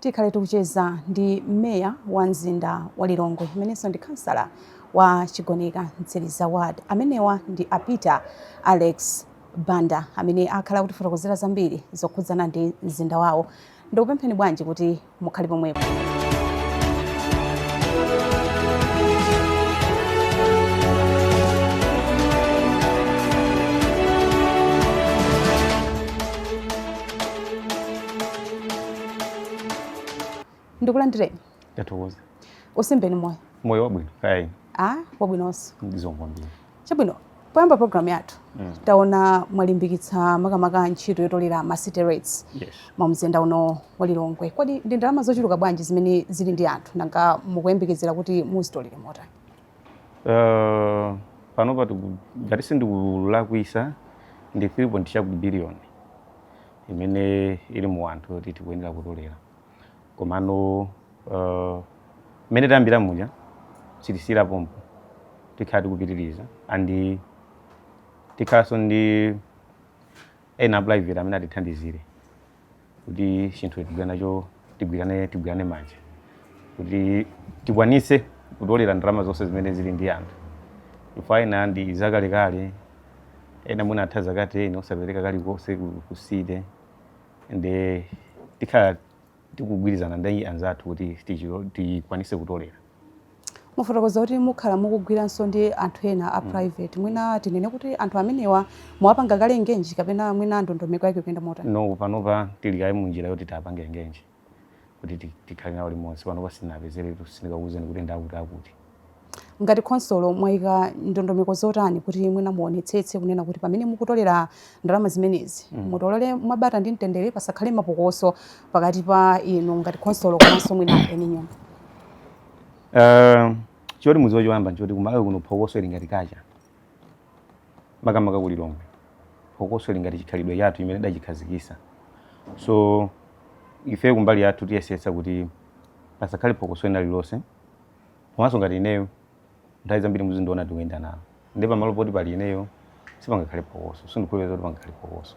Tikhale tikucheza ndi Meya wa mzinda wa Lilongwe amenenso ndi khansala wa Chigoneka Mtsiliza Ward. Amenewa ndi a Peter Alex Banda amene akhala akutifotokozera zambiri zokhudzana ndi mzinda wawo. Ndikupempheni bwanji kuti mukhale pomwepo. ndikulandireni ndatokoza utsimbeni moyo moyo wabwino kaya ine a wabwinonso ndizongwambira chabwino poyamba programu yathu Mm. taona mwalimbikitsa makamaka ntchito yotolera ma city rates yes mu mzinda uno wa lilongwe kodi ndi ndalama zochuluka bwanji zimene zili ndi anthu nanga mukuyembekezera kuti muzitolere motani Uh, panopa tiku- ngati sindikulakwitsa ndi 3 point chakuti biliyoni imene ili mu anthu yoti tikuyenera kutolera komano uh, mmene tayambira muja sitisiyira pompo tikhala tikupitiriza and tikhalanso ndi ena private amene atithandizire kuti chinthu tigwira nacho tigwirane tigwirane manja kuti tikwanitse kutolera ndalama zonse zimene zili ndi anthu chifukwa ena ndi zakalekale ena mwina atha zaka 10 osapereka kalikonse ku- ku city nde tikhala tikugwirizana ndi anzathu kuti tichilo- tikwanitse kutolera mwafotokoza kuti mukhala mukugwiranso ndi anthu ena a mm. private mwina tinene kuti anthu amenewa mwawapanga kale engage kapena mwina ndondomeko yake ikuyenda motani no panopa tili kaye munjira yoti tiwapange engage kuti tikhale nawo limodzi panopa sitinapeze sindingakuuzeni kuti ndakuti akuti ngati khonsolo mwayika ndondomeko zotani kuti mwina muonetsetse kunena kuti pamene mukutolera ndalama zimenezi mm. mutolere mwabata ndi mtendere pasakhale mapokoso pakati pa inu ngati khonsolo komanso mwina eni nyumba Eh, choti mudziwe choyamba nchoti ku Malawi kuno phokoso ili ngati culture makamaka ku Lilongwe phokoso ili ngati chikhalidwe chathu chimene tidachikhazikitsa so ife kumbali yathu tiyesetsa kuti pasakhale phokoso ina lilonse komanso ngati ineyo nthawi zambiri muzindiona tikuyenda nawo nde pamalo poti pali ineyo sipangakhale phokoso sindikukhulupirira kuti pangakhale phokoso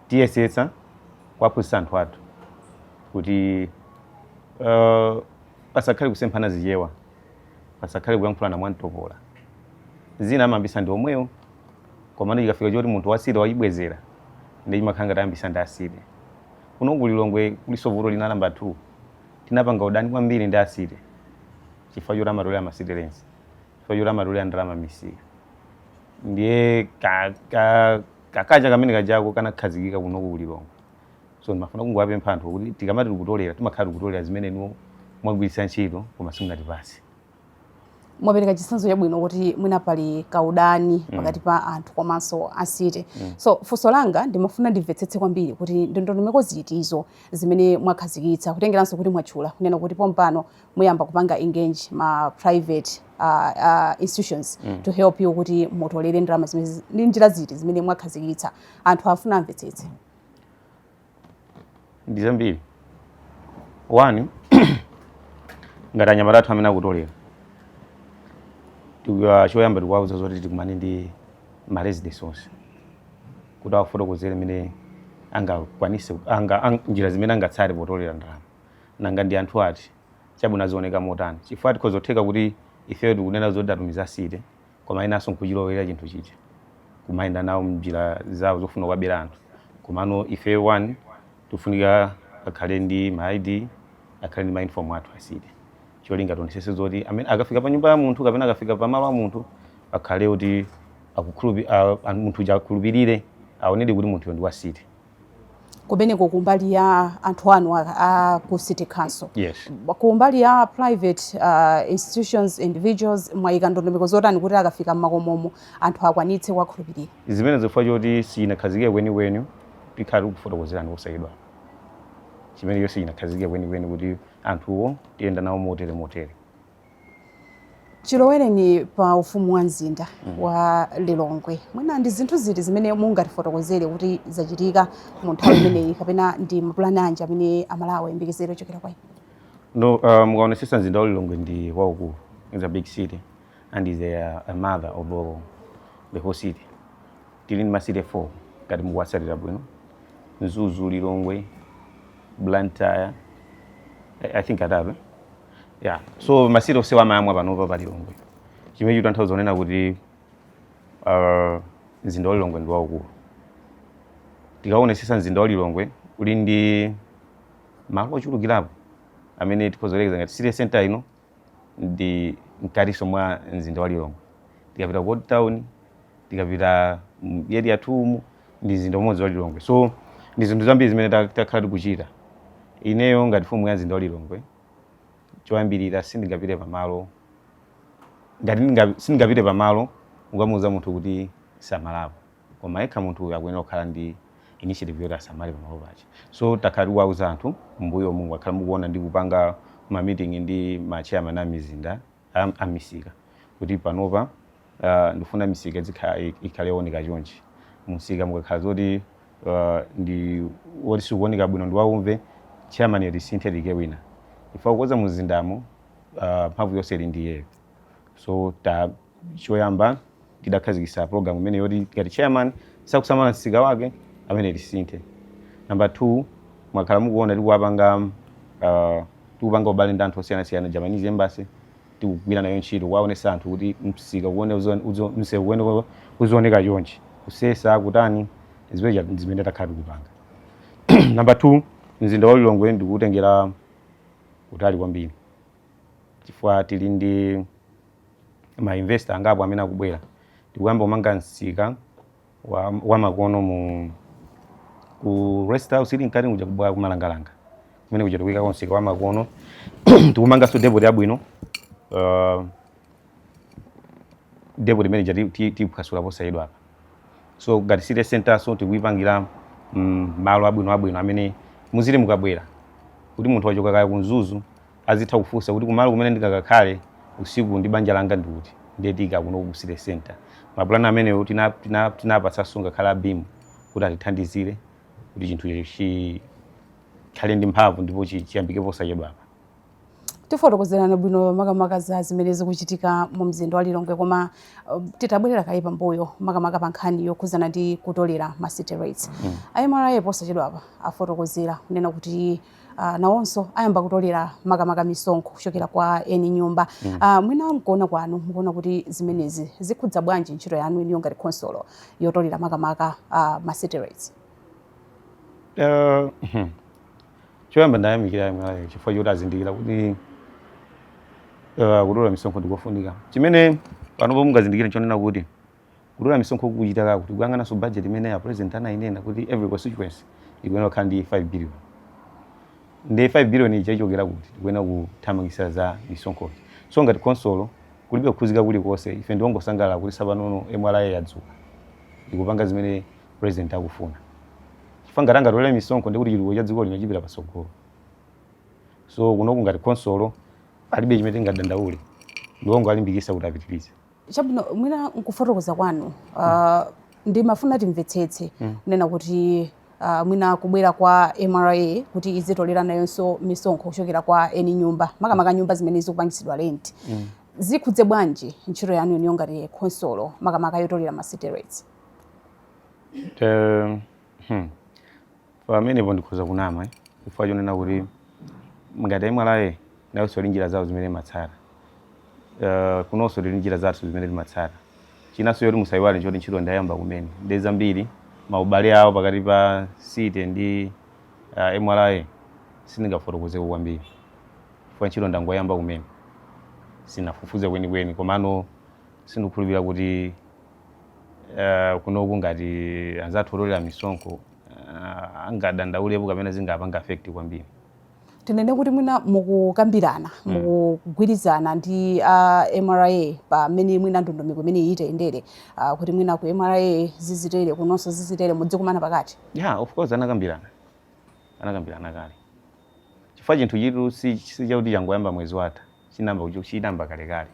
tiyesetsa kuwaphunzitsa anthu athu kuti uh, pasakhale kusemphana zichewa pasakhale kuyankhulana mwamtopola zina amayambitsa ndi omwewo komano chikafika choti munthu wa city wachibwezera nde chimakhala ngati ayambitsa ndi a city kuno ku Lilongwe kulinso vuto lina la number 2 tinapanga udani kwambiri ndi a city chifukwa choti amatolera ma city rates chifukwa choti amatolera ndalama m'misika ndiye ka- ka- kakacha kamene kajako kanakhazikika kuno ku Lilongwe so ndimafuna kungowapempha anthu kuti tikamati tikutolera timakhala tikutolera zimene inuwo mwagwiritsa ntchito koma simunatipase mwapereka chitsanzo chabwino kuti mwina pali kaudani mm. pakati pa anthu komanso a city mm. so funso langa ndimafuna ndimvetsetse kwambiri kuti ndondomeko zitizo zimene mwakhazikitsa kutengeranso kuti mwatchula kunena kuti pompano muyamba kupanga engage ma private uh, uh, institutions mm. to help you kuti mutolere ndalama zimene ndi njira ziti zimene mwakhazikitsa anthu afuna amvetsetse ndi zambiri one ngati anyamata athu amene akutolera Tiku- choyamba tikuwauza zoti tikumane ndi ma residents onse kuti awafotokozere mmene angakwanise anga, ang, njira zimene angatsate potolera ndalama nanga ndi anthu ati chabwino azioneka motani chifukwa tikhoza kutheka kuti ifeyo tikunena zoti tatumiza a city koma enanso nkuchilowelera chinthu chija kumayenda nawo mnjira zawo zofuna kuwabera anthu komano ife one tifunika akhale ndi ma id akhale ndi ma uniform athu a city cholinga tionesese zoti amene akafika pa nyumba ya munthu kapena akafika pa malo a munthu akhale kuti akukhulupi a- a- munthu uja akhulupirire aonedi kuti munthuyo ndi wa city kumeneko kumbali ya anthu anu a, a ku city council yes. kumbali ya private uh, institutions individuals mwayika ndondomeko zotani kuti akafika mmakomomo anthu akwanitse kuwakhulupirira zimenezo chifukwa choti sichinakhazikike kwenikweni tikhala tikufotokozerani ku side ya chimenecho sichinakhazikike kwenikweni kuti anthuwo tiyenda nawo motere motere chilowereni pa ufumu wa mzinda mm. wa Lilongwe mwina ndi zinthu ziti zimene mungatifotokozere kuti zachitika mu nthawi imeneyi kapena ndi mapulani anji amene amalawi ayembekezere ochokera kwa inu uh, mukaonesesa mzinda wa Lilongwe ndi waukulu is a big city and is a, a mother of all, the whole city tili ndi ma city 4 ngati mukuwatsatira bwino Mzuzu Lilongwe Blantyre I, I think atatu yeah so ma city onsewa amayamwa panopa pa lilongwe chimene chikutanthauza kunena kuti uh, mzinda wa lilongwe ndi waukulu tikaonesesa mzinda wa lilongwe uli ndi malo ochulukirapo amene tikhoza kuyerekeza ngati city center ino ndi mkatiso mwa mzinda wa lilongwe tikapita ku old town tikapita mu area 2 umu ndi mzinda umodzi wa lilongwe so ndi zinthu zambiri zimene ta- takhala tikuchita ineyo ngati mfumu ya mzinda wa lilongwe choyambirira sindingapite pamalo ngati ndinga- sindingapite pamalo ukamuuza munthu kuti samalapo koma yekha munthu uyu akuyenera kukhala ndi initiative yoti asamale pamalo pake so takhala tikuwauza anthu mbuyomu mwakhala mukuona ndi kupanga ma meeting ndi ma chairman a mizinda a a misika kuti panopa ah, ndifuna misika idzikhala ikhale yooneka chonchi mumsika mukakhala zoti ah, ndi woti sikuoneka bwino ndi waumve chairman yo tisintha tiike wina ife wa kukonza mumzindamo ah, mphamvu yonse ili ndi iyeyo so ta choyamba tidakhazikitsa program imene yoti ngati chairman sakusamala msika wake amene tisinthe number 2 mwakhala mukuona tikuwapanga uh, tikupanga ubale ndi anthu osiyanasiyana japanese embassy tikugwira nayo ntchito kuwaonesa anthu kuti msika uwone msewu uwone uzioneka chonchi kusesa kutani zimeja zimene takhala tikupanga number 2 mzinda wa lilongwe tikuutengera patali kwambiri chifukwa tili ndi ma investor angapo amene akubwera tikuyamba kumanga msika wa, wa makono mu ku rest house ili mkati kuja kubwa kumalangalanga kumene kuja tikuyika msika wa makono tikumanganso depot yabwino uh, depot imene ija tiphwasula posachedwapa so ngati city center so tikuyipangira mm, malo abwino abwino amene muzili mukabwera kuti munthu wachoka kaya ku mzuzu azitha kufunsa kuti kumalo kumene ndingakakhale usiku ndi banja langa ndi kuti ndiye ndi kuno ku city center mapulani amenewo tina- tina- tinapatsanso ngakhale abimu kuti atithandizire kuti chinthu chikhale ndi mphamvu ndipo chi- chiyambike posachedwapa mwatifotokozera bwino makamaka za zimene zikuchitika mu mzinda wa lilongwe koma uh, titabwerera kaye pambuyo makamaka pa nkhani yokhudzana ndi kutolera ma city rates mm. a mra posachedwapa afotokozera kunena kuti uh, nawonso ayamba kutolera makamaka misonkho kuchokera kwa eni nyumba mm. uh, mwina mkuona kwanu mukuona kuti zimenezi zikhudza bwanji ntchito yanu inuyo ngati khonsolo yotolera makamaka uh, ma city rates uh, hmm. choyamba ndayamikira a mra chifukwa choti azindikira kuti uh, kutolera misonkho ndikofunika chimene panopo mungazindikire chonena kuti Kutolera misonkho kukuchita kaye kuti kuyang'ananso budget imene a president anainena kuti every constituency ikuyenera kukhala ndi 5 billion. Nde 5 billion ija ichokera kuti? Tikuyenera kuthamangitsa za misonkhozi. So ngati khonsolo kulibe kukhuzika kulikonse ife ndi ongosangalala kuti tsopano mra yadzuka ikupanga zimene president akufuna. Chifukwa ngati akutolera misonkho ndiye kuti chitukuko cha dziko lino chipita patsogolo. So kunoku ngati khonsolo palibe chimene tingadandaule ndi ongolimbikitsa kuti apitirize. Chabwino, mwina nkufotokoza kwanu uh, mm. ndimafuna timvetsetse mm. kunena kuti uh, mwina kubwera kwa MRA kuti izitolera nayonso misonkho kuchokera kwa eni nyumba makamaka nyumba zimene zikupangitsidwa rent mm. zikhudze bwanji ntchito yanu inuyo ngati khonsolo makamaka yotolera ma city rates? Um, hmm. Pamenepo ndikhoza kunama chifukwa chonena kuti ngati mra nayonso ili ndi njira zawo zimene imatsata, kunonso tili ndi njira zathu zimene timatsata. Chinanso choti musaiwale nchoti ntchito ndayamba kumene ndiye zambiri maubale awo pakati pa City ndi mra sindingafotokozeko kwambiri chifukwa ntchito ndangoyamba kumene, sindinafufuze kwenikweni komano sindikukhulupirira kuti uh, kunoku ngati anzathu otolera misonkho uh, angadandaulepo kapena zingapange affect kwambiri tinene kuti mwina mukukambirana mm. mukugwirizana ndi a uh, mra pa mmene mwina ndondomeko imeneyi itayendere uh, kuti mwina ku mra zizitere kunonso zizitere mudzikumana pakati ya yeah, of course anakambirana anakambirana kale chifukwa chinthuchitu si chakuti changoyamba mwezi watha chinayamba kucho chinayamba kalekale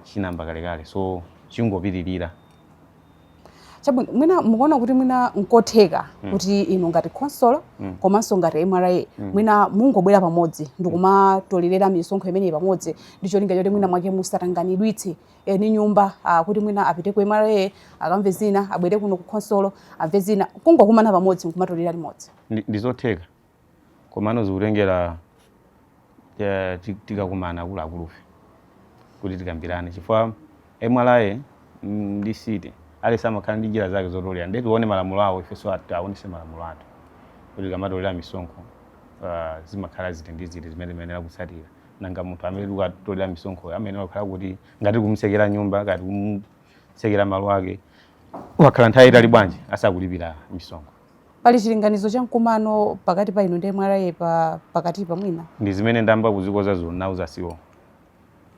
chinayamba kalekale so chikungopitirira chabwino mwina mukuona kuti mwina nkotheka mm. kuti inu ngati khonsolo mm. komanso ngati mra mm. mwina mungobwera pamodzi ndikumatolelera misonkho imeneyi pamodzi ndi cholinga choti mwinamwake musatangwanitse eni eh, nyumba ah, kuti mwina apite ku mra akamve zina abwere kuno ku khonsolo amve zina kungokumana pamodzi nkumatolera limodzi ndizotheka komano zikutengera eh, ti- tikakumana akuluakulufe kuti tikambirane chifukwa mra mm, ndi city aliyense amakhala ndi njira zake zotolera nde tione malamulo awo ifenso at- aonese malamulo athu kuti tikamatolera misonkho ah, zimakhala ziti ndi ziti zimene timayenera kutsatira nanga munthu amene tikatolera misonkhoyo amayenera kukhala kuti ngati kumtsekera nyumba ngati kumtsekera malo ake wakhala nthawi yaitali bwanji asakulipira misonkho pali chilinganizo cha mkumano pakati pa inu ndi mra pa pakatipa mwina ndi zimene ndayamba kuzikonza ndinawauza a CEO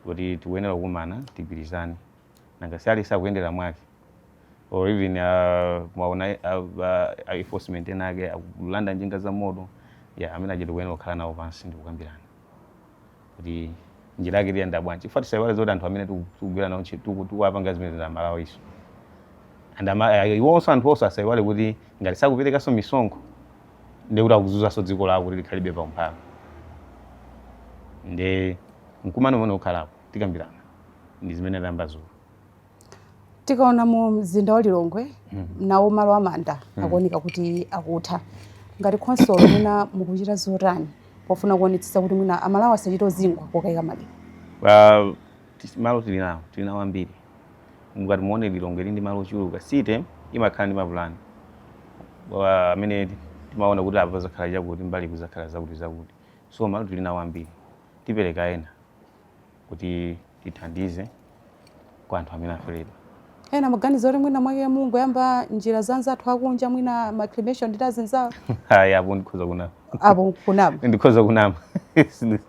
kuti tikuyenera kukumana tigwirizane nanga si aliyense akuyendera mwake or even uh, mwaona uh, uh, enforcement enaake akulanda njinga za moto ya amene aja tikuyenera kukhala nawo pansi ndikukambirana kuti njira yake tiyenda bwanji chifukwa tisaiwale zoti anthu amene tiku- tikugwira nawo ntchito tiku- tikuwapanga zimenezi ndi a Malawinso and ama- eh, iwonso anthu onse asaiwale kuti ngati sakuperekanso misonkho nde kuti akuzunzanso dziko lawo kuti likhalebe pa umphawi nde mkumano umene ukhalapo tikambirana ndi zimene tayamba dzulo tikaona mu mzinda wa lilongwe nawo malo amanda akuoneka kuti akutha ngati khonsolo mwina mukuchita zotani pofuna kuonetsetsa kuti mwina amalawi asachite uzingwa pokaika maliro Pa- tis- malo tili nawo tili nawo ambiri mukati muone lilongwe ili ndi malo ochuluka city imakhala ndi mapulani Wa- amene ti- timaona kuti apa pazakhala chakuti mbali kuzakhala zakuti zakuti so malo tili nawo ambiri tipereka ena kuti tithandize kwa anthu amene aferedwa. ena maganizo kuti mwina mwake mungoyamba njira zanzathu akunja mwina ma cremation ndi azinzawo Ayi, apo ndikhoza kunama. apo kunama Ndikhoza kunama.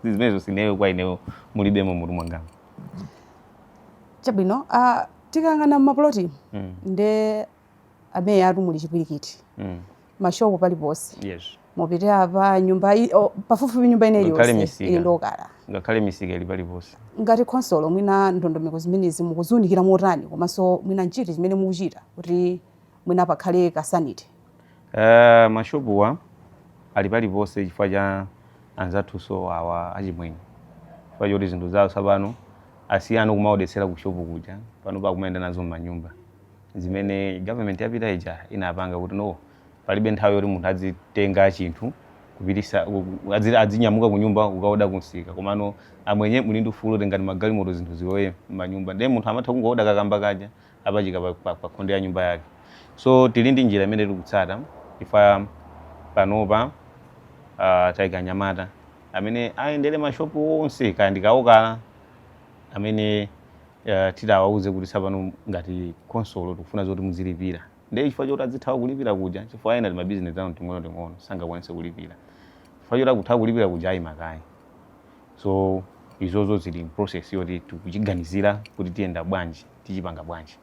Zimenezo sineyo kwa ineyo mulibemo mutu mwangamu. chabwino ah, tikang'ana mmapuloti Mm. nde ameyatu muli chipwirikiti mm. mashopu pali ponse yes. mupite apa nyumba oh, pafupifupi nyumba ina iliyonse ili ndi okala ngakhale misika ili pali ponse ngati khonsolo mwina ndondomeko zimenezi mukuziunikira motani komanso mwina nchiti chimene mukuchita kuti mwina pakhale ka sanity uh, eh, mashopuwa ali pali ponse chifukwa cha anzathunso awa achimwenye chifukwa choti zinthu zawo tsapano asiyana kumaodetsera ku shopu kuja pano akumayenda nazo m'manyumba zimene government yapita ija inapanga kuti no palibe nthawi yoti munthu adzitenga chinthu kupitisa adzi- adzinyamuka ku nyumba kukaoda kumsika komano amwenye muli ndi ufulu tengani magalimoto zinthu zilowe m'manyumba ndiye munthu amatha kungooda kakamba kaja apachika pa, pa, pa khonde ya nyumba yake so tili ndi njira imene tikutsata ife panopa uh, taika anyamata amene ayendere mashopu onse kaya ndi kaokala amene uh, titi tiwauze kuti tsapano ngati khonsolo tikufuna zoti muzilipira ndiye chifukwa choti adzithawa kulipira kuja chifukwa ena timabizinesi tawo ting'ono ting'ono sangakwanise kulipira chifukwa choti akuthawa kulipira kuja ayimakayi so izozo zili mu process yoti tikuchiganizira kuti tiyenda bwanji tichipanga bwanji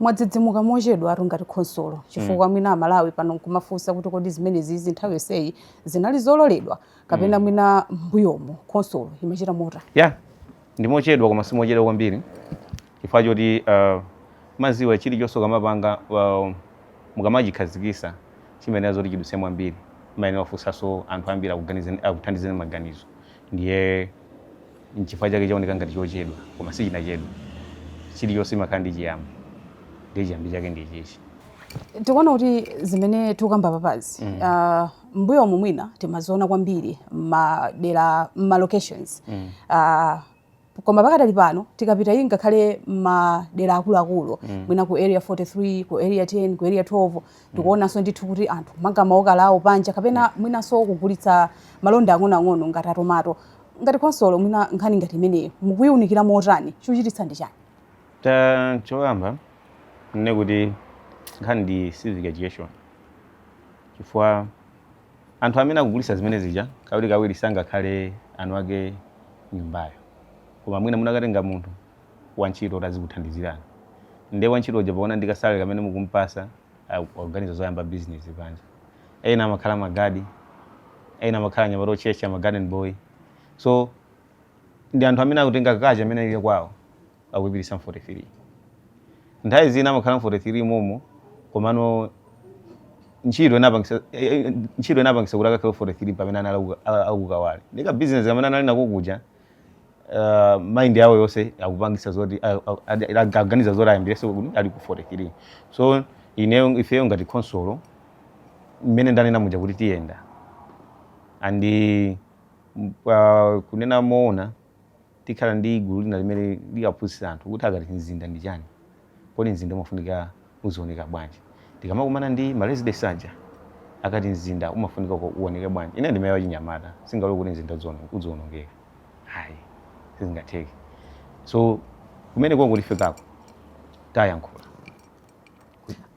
mwadzidzimuka mochedwatu ngati khonsolo chifukwa mm. mwina amalawi pano nkumafunsa kuti kodi zimenezizi nthawi yonseyi zinali zololedwa kapena mm. mwina mbuyomo khonsolo imachita mota ya yeah. Ndi mochedwa koma simochedwa kwambiri chifukwa choti uh, mumadziwa chilichonse ukamapanga uh, mukamachikhazikisa chimayenera zoti chidutse mwambiri mumayenera kufunsanso anthu ambiri akuthandizeni maganizo ndiye nchifukwa chake chaoneka ngati chochedwa koma sichinachedwa chilichonse chimakhala ndi chiyambi ndiye chiyambi chake ndi ichichi tikuona kuti zimene tikukamba papazi mm. uh, m'mbuyomu mwina timaziona kwambiri m'madera m'ma locations mm. uh, koma pakadali pano tikapita iyi ngakhale madera akuluakulu mm. mwina ku area 43 ku area 10 ku area 12 mm. tikuonanso mm. ndithu kuti anthu amanga maokala awo panja kapena yeah. mwinanso kugulitsa malonda ang'onoang'ono ngati a tomato ngati khonsolo mwina nkhani ngati imeneyo mukuyiunikira motani chochititsa ndi chani choyamba nnene kuti nkhani ndi civic education chifukwa anthu amene akugulisa zimene zija kawiri kawiri sangakhale eni ake nyumbayo koma mwina munakatenga munthu wantchito kuti azikuthandizirani nde wantchito uja poona ndi kasalale kamene mukumpasa oganiza zoyamba business panja ena amakhala magadi ena amakhala anyamata otchetcha ma garden boy so ndi anthu amene akutenga culture imene ili kwawo akuipititsa mu 43 nthawi zina amakhala mu 43 momo komano ntchito inapangisa eh, eh, ntchito inapangisa kuti akakhale 43 pamene anali aku- a- a ku Kawale ndi ka business kamene anali nako kuja uh, mind yawo yonse akupangisa zoti a- a- adi- adi- aganiza zoti ayambireso kuti ali ku 43 so ineyo ifeyo ngati khonsolo mmene ndanena muja kuti tiyenda and uh, kunena moona Tikhala ndi gulu lina limene likaphunzitsa anthu kuti akati mzinda ndi chani, kodi mzinda umafunika uzioneka bwanji. Tikamakumana ndi ma residents aja akati mzinda umafunika uoneke bwanji. Ineyo ndi meya wachinyamata sindingalole kuti mzinda udzionongeka ayi sizingatheke. So kumenekoko tifikako tayankhula.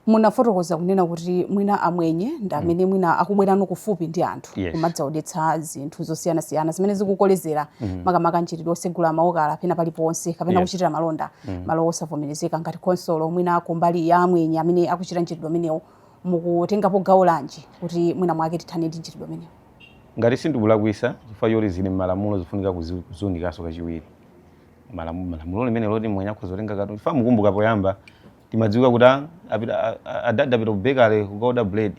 munafotokoza kunena kuti mwina amwenye ndi amene mwina akubwerano kufupi ndi anthu Yes. kumadzaodetsa zinthu zosiyanasiyana zimene zikukolezera makamaka mchitidwe osegula maokala pena paliponse kapena Yes. kuchitira malonda malo osavomerezeka ngati khonsolo mwina kumbali ya amwenye amene akuchita mchitidwe umenewo mukutengapo gawo lanji kuti mwina mwake tithane ndi mchitidwe umenewo ngati sindikulakwisa chifukwa choti zili m'malamulo zifunika kuziunikaso kachiwiri malamulo lamulo limene loti mwenye akhoza kutenga katundu chifukwa mukumbuka poyamba timadziwika kuti a- apita- a- a- adadi apita ku bakery kukaoda bread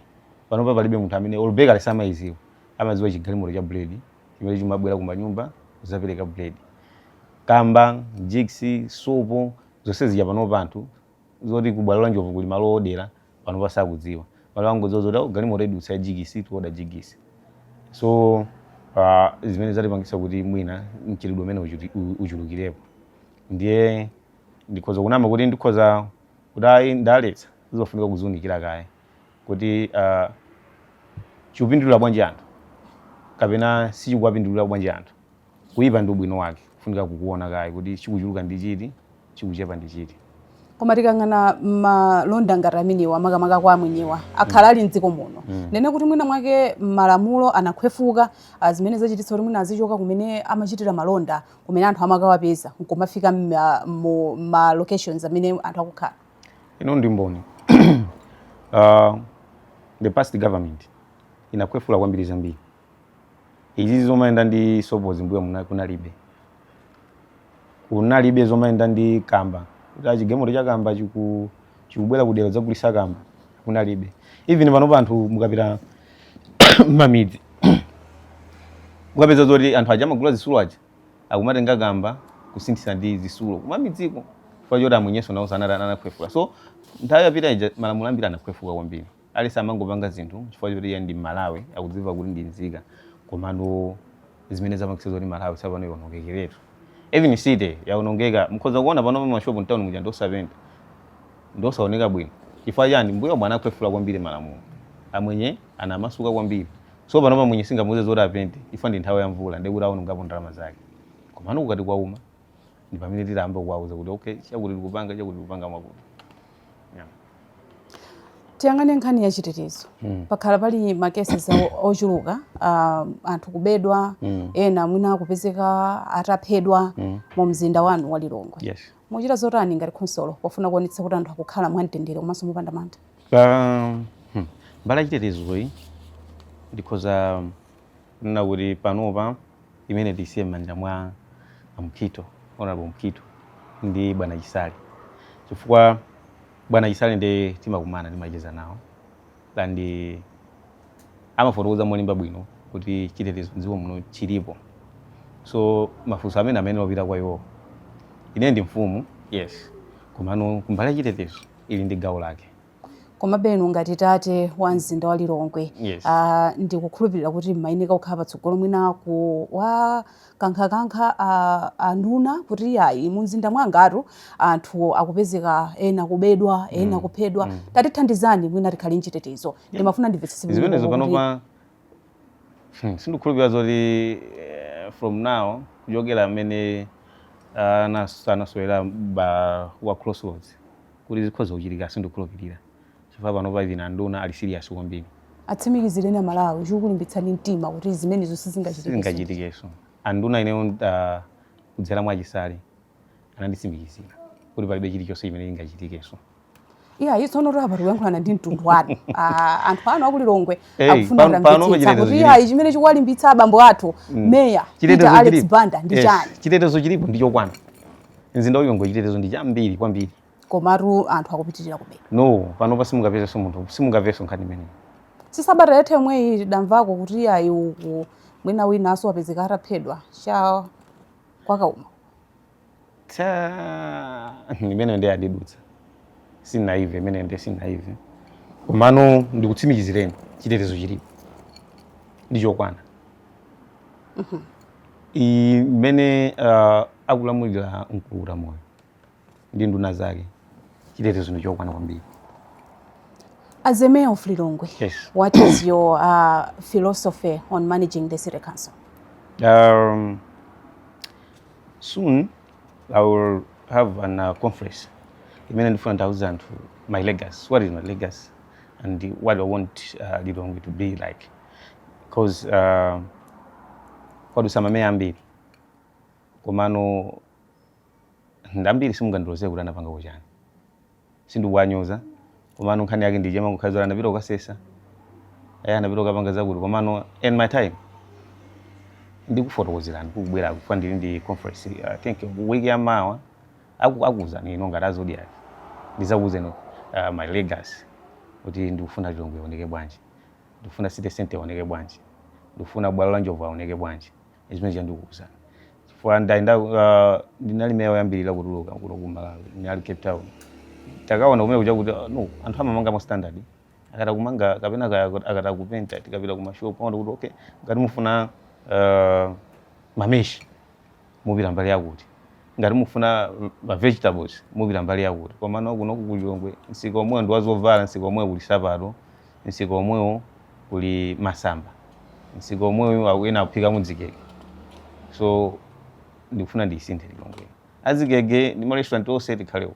panopa palibe munthu amene olo bakery samayiziwa amaziwa chigalimoto cha bread chimene chimabwera kumanyumba kuzapereka bread kamba jigisi sopo zonse zija panopa anthu zoti kubwalo la njovu kuli malo odera panopa sakudziwa malo angodziwa zoti "Oh, galimoto idutsa ya jigisi tioda jigisi so ah, zimene zatipangisa kuti mwina mchitidwe umene uchuti- u- uchulukirepo ndiye ndikhoza kunama kuti ndikhoza kuti ayi ndaletsa zizofunika kuziunikira kaye kuti ah, chikupindulira bwanji anthu kapena sichikuwapindulira bwanji anthu Kuipa ndi ubwino wake kufunika kukuona kaye kuti chikuchuluka ndi chiti, chikuchepa ndi chiti. Koma tikayang'ana malonda ngati amenewa makamaka kwa amwenyewa akhala ali mdziko muno mm. ndiye kuti mwina mwake malamulo anakhwefuka ah, zimene zachititsa kuti mwina azichoka kumene amachitira malonda kumene anthu amakawapeza nkumafika mma- mu ma locations amene anthu akukhala ine ndi mboni uh, the past government inakhwefula kwambiri zambiri izi zomayenda ndi sopozi mbuyo muna- kunalibe kunalibe zomayenda ndi kamba kuti chigalimoto cha kamba chiku- chikubwera kudera kudzagulisa kamba kunalibe even panopa anthu mukapita mmamidzi mukapeza zoti anthu aja amagula zitsulo aja akumatenga kamba kusinthitsa ndi zitsulo kumamidziko chifukwa choti amwenyenso nawo anati anakhwefula so nthawi yapita ija malamulo ambiri anakhwefuka kwambiri aliyense amangopanga zinthu chifukwa choti iye ndi Mmalawi, akudziwa kuti ndi nzika, komano zimene zapangitsa zoti Malawi tsopano ionongekeretu. Even city yaonongeka, mukhoza kuona panopa ma shop mtown muja ndi osapenta, ndi osaoneka bwino. Chifukwa chani? Mmbuyomu anakhwefula kwambiri malamulo, amwenye anamasuka kwambiri. So panopa mwenye sungamuuze zoti apente chifukwa ndi nthawi ya mvula, ndiye kuti aonongapo ndalama zake. Komano kukati kwauma. ndi pamene titayamba kuwauza kuti okay chakuti tikupanga chakuti tikupanga mwakuti yeah. tiyang'ane nkhani ya chitetezo mm. pakhala pali ma cases ochuluka uh, anthu kubedwa mm. ena mwina kupezeka ataphedwa mm. mu mzinda wanu wa lilongwe yes. muchita zotani ngati khonsolo pofuna kuonetsa kuti anthu akukhala mwamtendere komanso mopanda mantha um, hmm. mbali ya chitetezoyi ndikhoza kunena kuti panopa imeneyi tiisiye m'manja mwa a Mukhito, Hon. Mukhito ndi bwana Chisale chifukwa bwana Chisale ndiye timakumana timacheza nawo and amafotokoza molimba bwino kuti chitetezo m'dziko muno chilipo so mafunso amenewo apita kwa iwowo ine ndi mfumu yes komano kumbali ya chitetezo ili ndi gawo lake komabe inu ngati tate wa mzinda wa lilongwe Yes. ah, ndikukhulupirira kuti mmayeneka kukhala patsogolo mwina kuwakankhakankha ah, anduna kuti ayi mu mzinda mwangatu anthu akupezeka ena kubedwa ena kuphedwa tatithandizani mwina tikhale mchitetezo ndimafuna ndimvetsetse bwino zimenezo kuti- panopa hmm, sindikhulupirira zoti eh, from now kuchokera mmene anasowera Baba wa crossroads kuti zikhoza kuchitika sindikukhulupirira chifukwa panopa even anduna ali serious kwambiri atsimikizireni amalawi chikukulimbitsani mtima kuti zimenezo sizingachitike sizingachitikenso anduna ineyo uh, kudzera mwa chisale ananditsimikizira kuti palibe chilichonse chimene chingachitikenso iya yeah, tsono apa tikuyankhulana ndi mtundu wanu Ah, anthu anu akulilongwe Hey, akufuna pano- pano kumvetsetsa pachitetezo kuti chilipo. iya chimene chikuwalimbitsa abambo athu meya peter alex banda ndi Eh, chani chitetezo chilipo ndi chokwana mzinda wa lilongwe chitetezo ndi chambiri kwambiri komatu anthu akupitirira kubedwa no panopa simungapezenso munthu simungamvenso nkhani imeneyi si sabata yatha yomweyi tidamvako kuti ayi uku mwina winanso wapezeka ataphedwa cha kwa kauma imeneyo nde idandidutsa sinaimve imeneyo nde sinaimve komano ndikutsimikizireni chitetezo chilipo ndi chokwana Mhm. iyi mmene uh, akulamulira mkulukutamoyo ndi nduna zake chitetezo ndi chokwana kwambiri As the mayor of Lilongwe, Yes. what is your uh, philosophy on managing the city council? Um, soon I will have an uh, conference imene ndifuna ndiwauze anthu my legacy what is my legacy and what I want uh, Lilongwe to be like cause uh, kwadutsa mameya ambiri komano ambiri simungandiloze kuti anapangako chani sindikuwanyoza komano nkhani yake ndi ija mangokhazi anapita kukasesa aya anapita kukapanga zakuti komano in my time ndikufotokozerani kukubwera kufa ndili ndi conference i think week ya mawa aku- akuitanani ino ngati azodiac ndizakuwuzeni uh, my legacy kuti ndikufuna lilongwe ioneke bwanji ndikufuna city centre ioneke bwanji ndikufuna bwalo la njovu lioneke bwanji zimene zija ndikukuuzani chifukwa ndali nda- ah, ndinali meya oyambirira kutuluka kuno ku malawi ndinali cape town takaona kumene kuja kuti ah, no anthu amamanga mwa standard akata kumanga kapena aka- akata kupenta tikapita ku mashopu aona kuti okay ngati mufuna ah, mameshi mupita mbali yakuti. Ngati mufuna ma vegetables mupita mbali yakuti. Komano kuno ku Lilongwe msika omwewo ndi wazovala, msika omwewo kuli sapato, msika omwewo kuli masamba, msika omwewo aku- ena akuphika mu ziwaya. So ndikufuna ndiyisinthe Lilongwe. Adzigege ndi ma restaurant onse tikhale uko.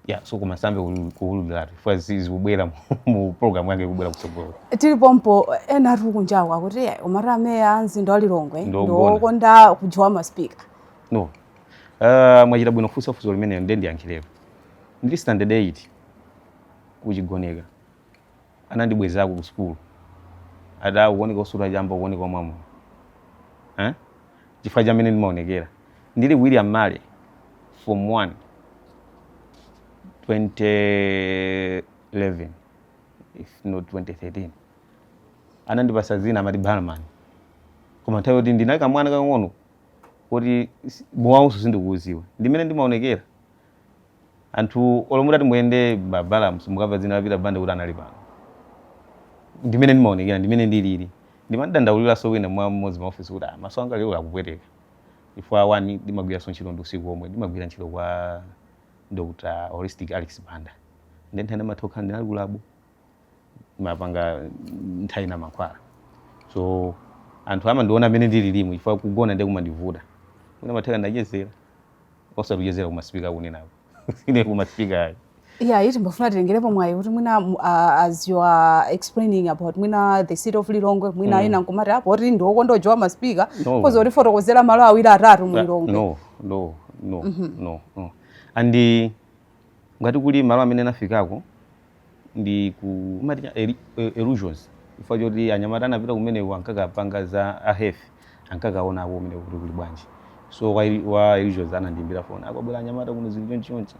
ya so koma sindingayambe kuwululiratu chifukwa zikubwera mu program yanga ikubwera kutsogolo tili pompo ena ati kunjawo akuti "Eh, umati ameya a mzinda wa lilongwe Ndi ndi ogona." okonda kujiya ma speaker no uh, mwachita bwino kufunsa funso limenelo ndiye ndiyankhirepo ndili standard 8 kuchigoneka anandibwezako ku school ati ah ukuoneka osuta chamba ukuoneka omwa mowa eh? chifukwa cha mmene ndimaonekera ndili william male form 1 2011 if not 2013 anandipasa dzina amati barman koma nthawi yoti ndinali kamwana kakang'ono kuti mowawuso sindikuuziwa ndi mmene ndimaonekera Anthu olo mutati muyende m'mabala simukamva dzina la Peter Banda kuti anali pano. Ndi mmene ndimaonekera ndi mmene ndilili. Ndimadandauliranso wina mwa mmodzi mma office kuti ah maso anga lero akupweteka. Chifukwa one ndimagwiranso ntchito ndi usiku omwe ndimagwira ntchito kwa Dr. Holistic Alex Banda. Nde nthawi zina ndimatha kukhala ndinali ku lab. mapanga nthawi zina mankhwala so anthu amandiona mmene ndililimu chifukwa kugona ndiye kumandivuta kumatheka ndachezera osati kuchezera kumasipika akunenako ine kumasipika ayi Yeah, ndimafuna tilengerepo mwayi kuti mwina mu- a- as you are explaining about mwina the city of Lilongwe mwina ena nkumati apo kuti ndi okonda kunjoya masipika No. koz mutifotokozera malo awiri atatu mu Lilongwe. no no no no no and ngati kuli malo amene nafikako ndi ku umati cha- ili- i- Illusions chifukwa choti anyamata anapita kumeneko ankakapanga za ahefe ankakaona uko kumeneko kuti kuli bwanji so wa, ili- wa Illusions anandiimbira foni kwabwera anyamata kuno zili chonchonchi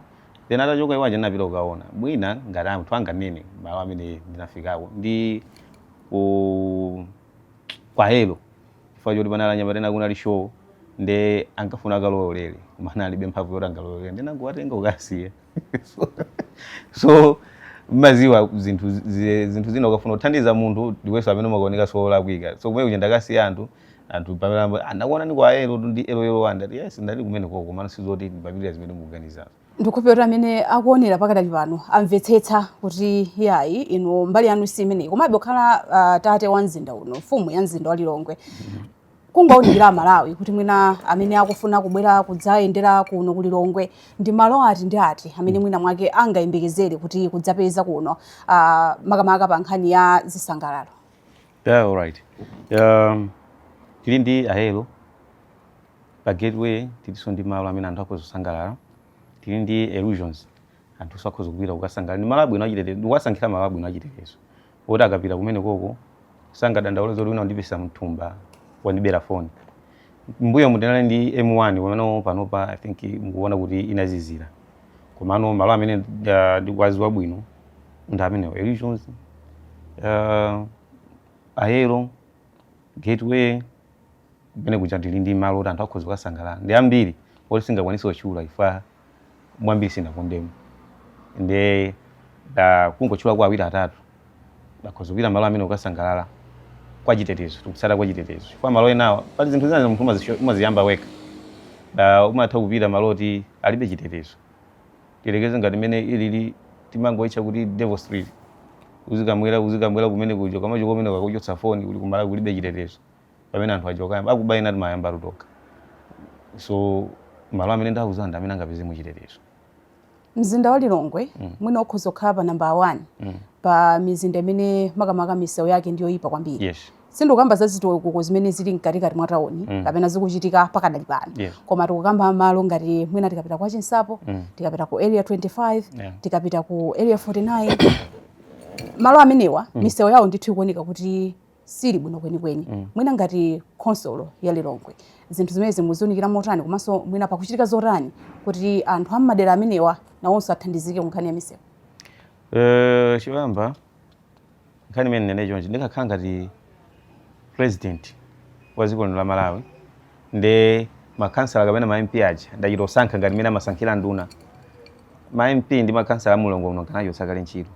then atachoka iwaja ndinapita kukaona mwina ngati anthu anganene malo amene ndinafikako ndi ku kwa helo chifukwa choti panali anyamata ena kunali show nde ankafuna akalowerere koma analibe mphamvu yoti angalowelere ndinangowatenga kukasiya So- so mmaziwa zinthu zi- zinthu zina ukafuna kuthandiza munthu ndiweso amene umakaonekaso olakwika so kumene kuja ndakasiya anthu anthu pamene amati, "Ah, ndakuona ndi kwa elo ndi elo elo wanda Ndati, yes ndali kumeneko komano sizoti ndimapitira zimene mukuganizazo ndikukhulupirira kuti amene akuonera pakadali pano amvetsetsa kuti yayi inu mbali yanu si imeneyi komabe kukhala ah, tate wa mzinda uno mfumu ya mzinda wa lilongwe kungounikira amalawi kuti mwina amene akufuna kubwera kudzayendera kuno ku lilongwe ndi malo ati ndi ati amene mwina mwake angayembekezere kuti akadzapeza kuno uh, makamaka pa nkhani ya zisangalalo yeah, all right. um, tili ndi ahelo pa gateway tilinso ndi malo amene anthu akhoza kusangalala tili ndi illusions anthuso akhoza kupita kukasangalala ndi malo abwino achitetezo ndikuwasankhira malo abwino achitetezo oti akapita kumeneko sangadandaule zoti wina wandipisa mthumba wandibera foni mbuyomu tinali ndi m1 amene panopa i think mukuona kuti inazizira komano malo amene uh, ndikuwaziwa bwino ndi amenewo illusions uh, ahelo gateway kumene kuja tili ndi malo oti anthu akhoza kukasangalala ndi ambiri oti singakwanise kutchula ifa mwambiri sinakondemo nde da kungotchula kwa awiri atatu akhoza kupita malo amene ukasangalala kwa chitetezo tikutsata kwa chitetezo chifukwa malo enawa pali zinthu zina munthu umazisho- umaziyamba wekha da umatha kupita malo oti alibe chitetezo tiyerekeze ngati mmene ilili timangoitcha kuti devil street uzikamwera uzikamwera kumene kuja kamacho kumene akuchotsa foni kulikumala kulibe chitetezo pamene anthu achoka yamba akuba ena timayamba tutoka so malo amene ndauza ndi amene angapeze muchitetezo mzinda wa lilongwe mm. mwina ukhoza kukhala pa namba 1 mm. pa mizinda imene makamaka misewu yake ndi yoipa kwambiri yes sindikukamba za zitukuko zimene zili mkatikati mwa tauni mm. kapena zikuchitika pakadali pano yeah. koma tikukamba malo ngati mwina tikapita kwa chinsapo mm. tikapita ku area 25 yeah. tikapita ku area 49 malo amenewa mm. misewu yawo ndithu ikuoneka kuti sili bwino kwenikweni mm. mwina ngati khonsolo ya Lilongwe zinthu zimenezi mukuziunikira motani komanso mwina pakuchitika zotani kuti anthu a m'madera amenewa nawonso athandizike ku nkhani ya misewu uh, choyamba nkhani imene ndinene chonchi ndikakhala ngati president wa dziko lino la malawi ndi makhansala kapena ma mp aja ndachita kusankha ngati mmene amasankhira nduna ma mp ndi makhansala a mu Lilongwe muno nkanachotsa kale ntchito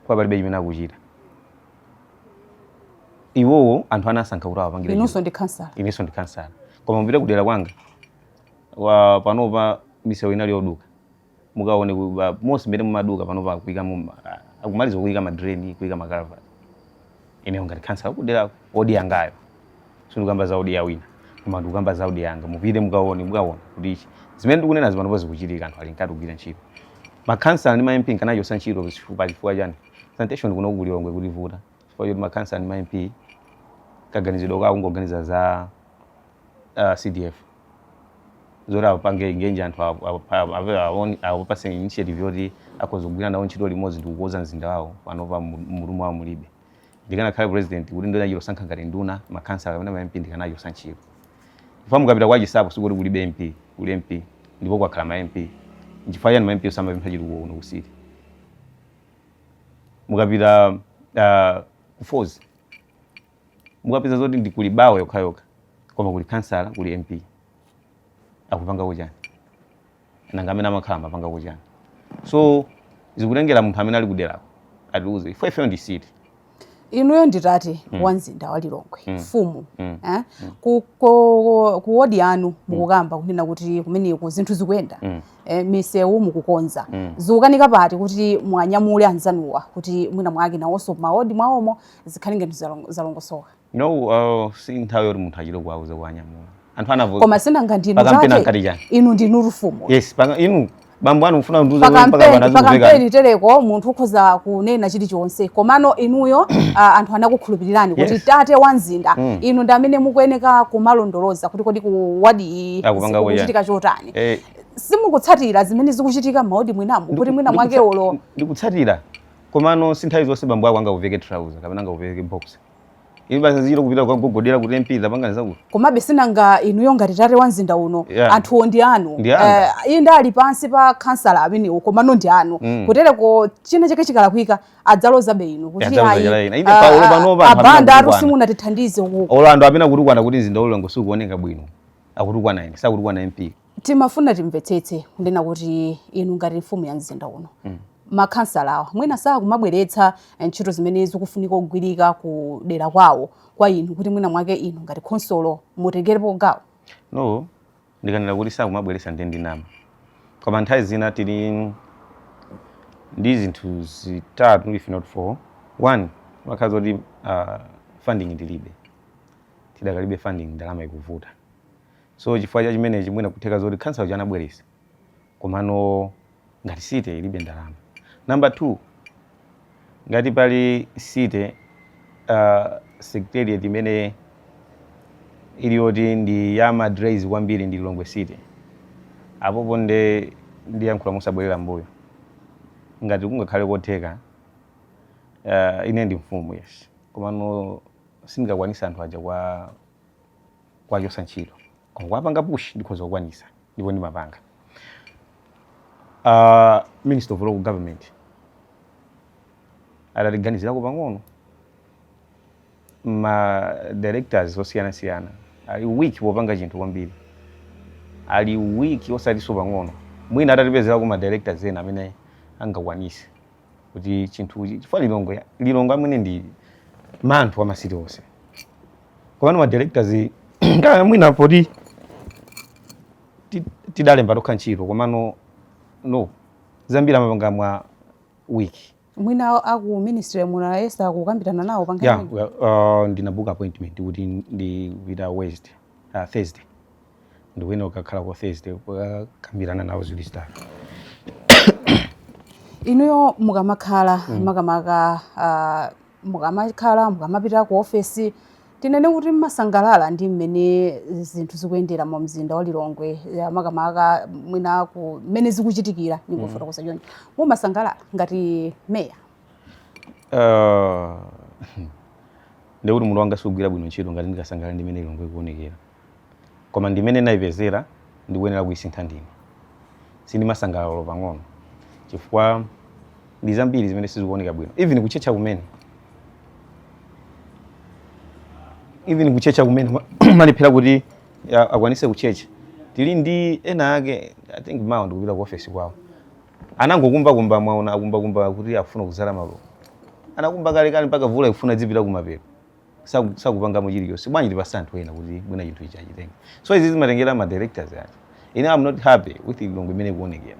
kwa palibe chimene akuchita iwowo anthu anasankha kuti awapangire inunso ndi khansala inenso ndi khansala koma mupita kudera kwanga panopa misewu inali yoduka mukaone ku- ba- monse mmene mumaduka panopa akuikamo ma- akumaliza kuika madrain kuika makalavati ineyo ngati khansala kudera odi yangayo sindikukamba za odi ya wina koma ndikukamba za odi yanga mupite mukaone mukaona kuti ichi zimene ndikunena zi panopo zikuchitika anthu ali mkati kugwira ntchito makhansala ndi ma MP nkanachotsa ntchito pa chifukwa chani sanitation kuno ku Lilongwe ikutivuta chifukwa choti makhansala ndi ma MP kaganizidwe kawo kungoganiza za uh, cdf zoti apange engage anthu awo- awo- awo- awo- awo- awapatse initiative yoti akhoza kugwira nawo ntchito limodzi ndi kukonza mzinda wawo panopa mu- mmutu mwawo mulibe ndikanakhala president kuti ndinachita kusankha ngati nduna makhansala kapena mamp ndikanachotsa ntchito chifukwa mukapita kwa chinsapo sikuti kulibe mp kuli mp ndipo kwakhala ma mp nchifukwa chani ma mp osamapempha chitukuko kuno kusiti mukapita uh, kufozi mukapeza zoti ndi kuli bawa yokhayokha koma kuli kansala kuli mp akupangako chani nanga amene amakhala amapangako chani so zikutengera munthu amene ali kuderako atiuze ife ifeyo ndi city inuyo ndi tate mm. wa mzinda wa lilongwe mm. mfumu mm. eh? mm. ku, ku, ku wodi yanu mm. mukukamba kunena kuti kumeneko zinthu zikuyenda mm. eh, misewu mukukonza mm. zikukanika pati kuti muwanyamule anzanuwa kuti mwina mwake nawonso mawodi mwawomo zikhale ngati zalong- zalongosoka no uh, si nthawi yoti munthu achite kuwauza kuwanyamula anthu anavota koma sinanga ndinu Pakampeni zake ankati chani? inu ndinu mfumu yes paka inu bambo anu mufuna ndikuuze mpaka pakampeni bana zikuveka pakampeni tereko munthu ukhoza kunena chilichonse komano inuyo ah, anthu anakukhulupirirani kuti Yes. tate wa mzinda Mm. inu ndi amene mukuyeneka kumalondoloza kuti kodi ku wadi iyi Akupanga kuya. zikuchitika chotani eh simukutsatira zimene zikuchitika m'mawodi mwinamu kuti mwina mwake ndikutsa- olo ndikutsatira Komano si nthawi zonse bambo ako angakuveke trouser kapena angakuveke boxer. Inu basi uzichita kupita kukagogodera kuti MP zapangani zakuti. Komabe sinanga inuyo ngati tate wa mzinda uno yeah. anthuwo ndi anu ndi anga. Eh, inde ali pansi pa khansala amenewo komano ndi anu Mm. kutereko china chake chikalakwika adzalozabe inu kuti Adzaloza ayi, chalaina. Inde ah, paulo ah, panopa anthu a Banda amene atu akukwana. simunatithandize uku Olo anthu amene akutukwana kuti mzinda wa Lilongwe sukuoneka bwino. Akutukwana ine, sakutukwana MP. timafuna timvetsetse kunena kuti inu ngati mfumu ya mzinda uno mm. makhansala awa mwina sakumabweretsa eh, ntchito zimene zikufunika kugwirika ku dera kwawo kwa inu kuti mwina mwake inu ngati khonsolo mutengerepo gawo no ndikanena kuti sakumabweretsa ndi ndinama koma nthawi zina tili ndi zinthu zitatu if not four one imakhala zoti uh, funding tilibe tidakalibe funding ndalama ikuvuta so chifukwa cha chimenechi mwina kutheka zoti khansala uja anabweresa komano ngati city ilibe ndalama number two ngati pali city uh, secretariat imene ili yoti ndi ya madrais kwambiri ndi lilongwe city apopo nde ndiyankhula musabwerera mbuyo ngati kungakhale kotheka uh, ine ndi mfumu yes komano sindingakwanitse anthu aja kwa kuwachosa ntchito koma kuwapanga push ndikhoza kukwanisa ndipo ndimapanga uh, minister of local government atatiganizirako pang'ono ma directors osiyanasiyana ali weak popanga chinthu kwambiri ali weak osatiso pang'ono mwina atatipezerako ma directors ena amene angakwanise kuti chinthuchi chifukwa lilongwe lilongwe amene ndi manthu wa masiti onse komano ma directors kaya mwina poti ti- tidalemba tokha ntchito komano no zambiri amapanga mwa weak mwina aku ministry ya munayesa kukambirana nawo pankhani yeah, well, uh, ndinabuka appointment kuti ndipita west uh, thursday ndikuyenera kukakhala ku Thursday kukakambirana nawo ziwiri zitatu inuyo mukamakhala mm. makamaka uh, mukamakhala mukamapita ku ofesi tinene kuti mmasangalala ndi mmene zinthu zikuyendera mu mzinda wa lilongwe makamaka mwina ku mmene zikuchitikira ndingofotokoza mm. choncho mumasangalala ngati meya uh, ndikuti munthune sindikugwira bwino ntchito ngati ndikasangalala ndi mmene lilongwe ikuonekera Koma ndi mmene ndinaipezera, ndikuyenera kuisintha ndine. Sindimasangalala olo pang'ono chifukwa ndi zambiri zimene sizikuoneka bwino. Even kutchetcha kumene. Even kutchetcha kumene amalephera kuti ya, akwanise kutchetcha. Tili ndi ena ake, I think mawa ndikupita ku office kwawo. Anangokumbakumba mwaona akumbakumba kuti akufuna kudzala maluwa. Anakumba kalekale mpaka vula ikufuna idzipita kumapeto. saku- sakupangamo chilichonse bwanji tipatse anthu ena kuti mwina chinthu ichi achitenge so izi zimatengera ma directors koma ine am not happy with lilongwe imene ikuonekera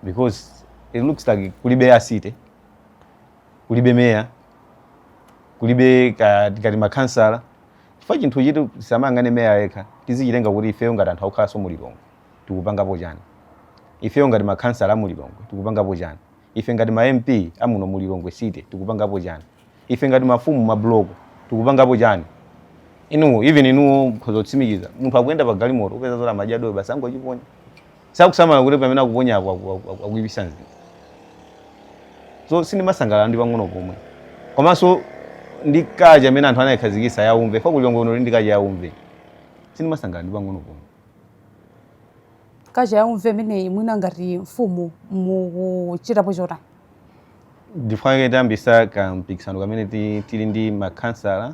because it looks like kulibe a city kulibe meya kulibe ka- kati makhansala chifukwa chinthu ichi tisamangonena meya yekha tizichitenga kuti ifeyo ngati anthu akukhalanso mu lilongwe tikupangapo chani ifeyo ngati makhansala a mu lilongwe tikupangapo chani Ife ngati ma MP amuno mu Lilongwe city tikupangapo chani? Ife ngati mafumu ma block tikupangapo chani? Inu even inuyo mkhoza kutsimikiza munthu akuyenda pa galimoto upeza zoti amadya dowe basi angochiponya. Sakusamala kuti pamene akuponyapo akuipisa mzinda. So sindimasangalala ndi pang'ono pomwe. Komanso ndi culture imene anthu anaikhazikisa yaumve. Chifukwa ku Lilongwe kuno tili ndi culture yaumve. Sindimasangalala ndi pang'ono pomwe. culture yaumve imeneyi mwina ngati mfumu mukuchitapo chotani chifukwa chake tiyambisa kampikisano kamene ti- tili ndi makhansala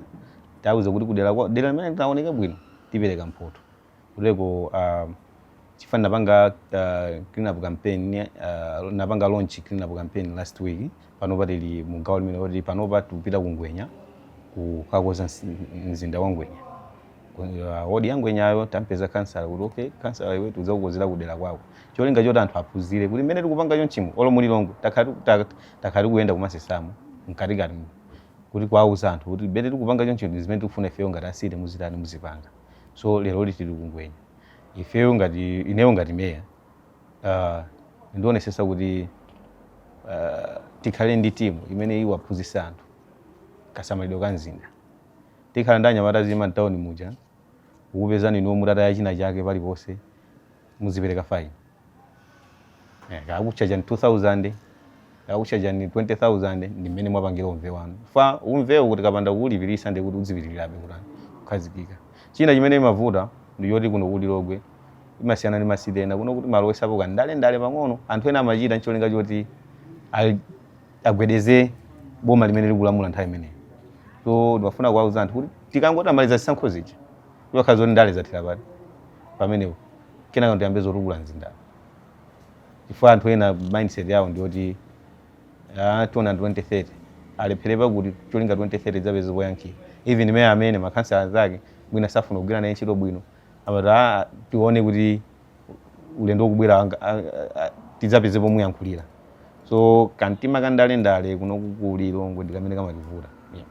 tauza kuti kudera kwa- dera limene litaoneke bwino tipereka mphoto kuderako uh, chifukwa napanga uh, clean up campaign uh, napanga launch clean up campaign last week panopa tili mu gawo limene kuti panopa tikupita ku ngwenya kukakonza msi- mzinda wa ngwenya uh, wodi ya ngwenyayo tampeza kansala kuti okay kansala iwe tidzakukonzera kudera kwako cholinga choti anthu aphunzire kuti mmene tikupanga chonchimo olo mu lilongwe takhala tiku- ta- takhala tikuyenda kumasesamo mkatikatimu kuti kuwauza anthu kuti mmene tikupanga chonchimo ndi zimene tikufuna ifeyo ngati a city muzitani muzipanga so lero tili ku ngwenya ifeyo ngati ineyo ngati meya uh, ndionesesa kuti uh, tikhale ndi timu imene iwaphunzisa anthu kasamalidwe ka mzinda Tikhala ndi anyamata azizungulira mtauni muja, akupezani inuyo mutataya china chake paliponse, muzipereka fine. Eh, kaya akutchajani 2000, kaya akutchajani 20000 ndi mmene mwapangira umve wanu. Chifukwa umvewo tikapanda kuulipirisa ndiye kuti udzipitirirabe kutani kukhazikika. China chimene imavuta ndi yoti kuno ku Lilongwe imasiyana ndi masite ena kuno kuti amalowesapo kandalendale pang'ono anthu ena amachita ncholinga choti al, agwedeze boma limene likulamula nthawi imeneyo so ndimafuna kuwauza anthu kuti tikangotamaliza zisankho zija zikhala zoti ndale zathera pati pamenepo kenaka tiyambe zotukula mzindawo chifukwa anthu ena mindset yawo ndiyoti ah, tiona 2030 alepherepa kuti cholinga 2030 zapeze poyankhira even meya amene makhansala anzake mwina safuna kugwira naye ntchito bwino amati "Ah, tione kuti ulendo ukubwera anga- a- a- a- tidzapeze pomuyankhulira so kantima ka ndalendale kuno ku Lilongwe ndikamene kamativuta yeah.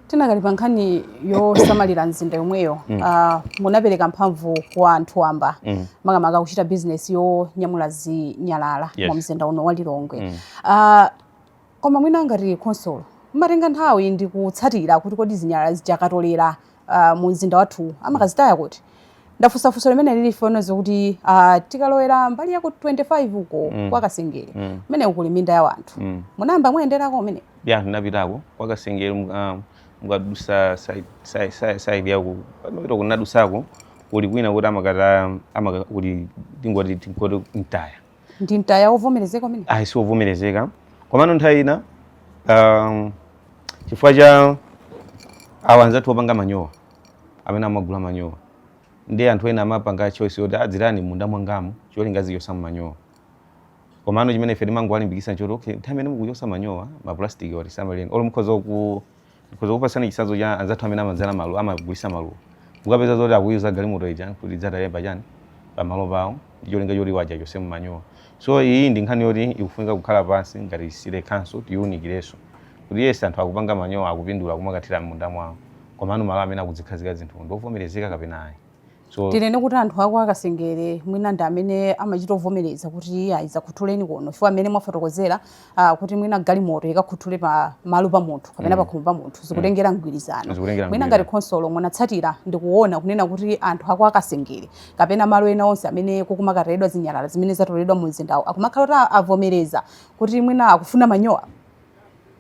Tidakali pa nkhani yosamalira mzinda yomweyo ah, munapereka mphamvu kwa anthu amba makamaka kuchita bizinesi yonyamula zinyalala Yes. mu mzinda uno wa lilongwe Ah, Koma mwina ngati khonsolo mmatenga nthawi ndi kutsatira kuti kodi zinyalala zija akatolera uh, mu mzinda wathu amakazitaya kuti ndafunsa funso limene ili chifukwa zoti uh, tikalowera mbali ya ku 25 uko mm. kwa kasengere mm. kumeneko kuli minda ya wanthu mm. munayamba mwayenderako kumene ya ndinapitako kwa kasengere um, mukadusa side side side, side yako pamapita ndinadusako kuli kwina kuti amakata amakuli tingoti tingoti mtaya ndi mtaya wovomerezeka umenewo ayi siwovomerezeka komano nthawi ina um, chifukwa cha awa anzathu opanga manyowa amene amagula manyowa ndi anthu ena amapanga choice yoti atsireni m'munda mwangamu cholinga azichosa manyowa komano chimene ife timangowalimbikisa nchoti okay nthawi imene mukuchosa manyowa mapulastiki aja tisamaleni olo mukhoza ku uza kukupatsani chitsanzo cha anzathu amene amadzala maluwa, amagulitsa maluwa. Mukapeza zoti akuyiuza galimoto ija kuti idzatayire pachani, pamalo pawo ndi cholinga choti iwo aja achotsemo manyowa. So iyi ndi nkhani yoti ikufunika kukhala pansi ngati City Council tiiwunikirenso kuti yes anthu akupanga manyowa, akupindula kumakathira m'munda mwawo komano malo amene akuzikhazika zinthuwo ndi ovomerezeka kapena ayi. so tinene kuti anthu a kwa kasengere mwina ndi amene amachita kuvomereza kuti ayi dzakhuthuleni kuno chifukwa mmene mwafotokozera ah, kuti mwina galimoto ikakhuthule pa malo pa munthu kapena mm. pakhomo pa munthu mm. zikutengera mgwirizano mwina ngati khonsolo munatsatira ndi kuona kunena kuti anthu a kwa kasengere kapena malo ena onse amene kukumakatayidwa zinyalala zimene zatoledwa mu mzindawo akumakhala kuti avomereza kuti mwina akufuna manyowa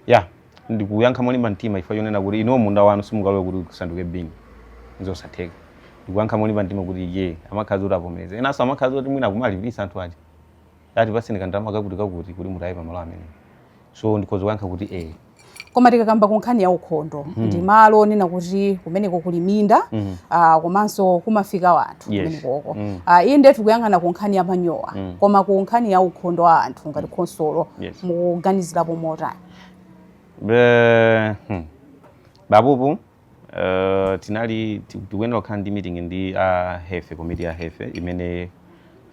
ya ndikuyankha molimba mtima chifukwa chonena kuti inuwo munda wanu simungalole kuti usanduke bin nzosatheka ndikuyankha molimba mtima kuti ee amakhaladi kuti avomereze enanso amakhaladi kuti mwina akumalipisa anthu aja ati patseni kandalama kakuti kakuti kuti mutaye pamalo amene so ndikhoza kuyankha kuti ee koma tikakamba ku nkhani ya ukhondo ndi malo onena kuti kumeneko kuli minda ah, komanso kumafika wanthu yes. kumenekoko mm. uh, iyi ndetu kuyang'ana ku nkhani ya manyowa mm. koma ku nkhani ya ukhondo wa anthu ngati mm. khonsolo yes. mukuganizirapo motani Be, hmm. pa pompo uh, tinali tikuyenera kukhala ndi meeting ndi a uh, hefe komiti ya hefe imene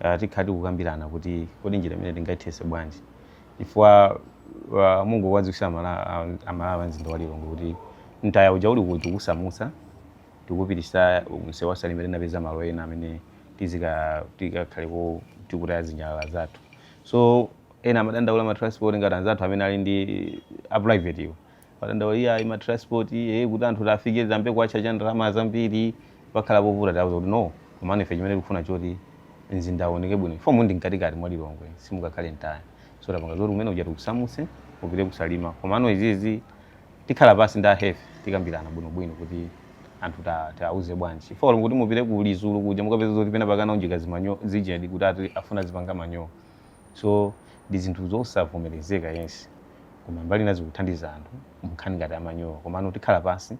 uh, eh, tikhala tikukambirana kuti kodi njira imene tingathese bwanji chifukwa uh, mungowadziwisa amalawi a mzinda wa lilongwe kuti mtaya uja ulikodi tikusamusa tikupitisa msewu wa salima tinapeza malo ena amene tizika tikakhaleko tikutaya zinyalala zathu so ena amadandaula ma transport ngati anzathu amene ali ndi a private iwo amadandaula ya ma transport eh kuti anthu afike zambiri akuchaja ndalama zambiri pakhala povuta tawuza kuti no komano ife chimene tikufuna choti mzinda uoneke bwino chifukwa mkatikati mwa lilongwe simungakhale mtaya so tapanga zoti kumene kuja tikusamuse upite kusalima komano izizi tikhala pasi ndi a health tikambirana bwino bwino kuti anthuwa tiwauze bwanji chifukwa olo kuti mupite ku lizulu kuja mukapeza zoti pena akunjika zimanyowa zijadi kuti ati afuna azipanga manyowa so ndi zinthu zosavomerezeka yes koma mbali ina zikuthandiza anthu mnkhani ngati amanyowa komano tikhala pasi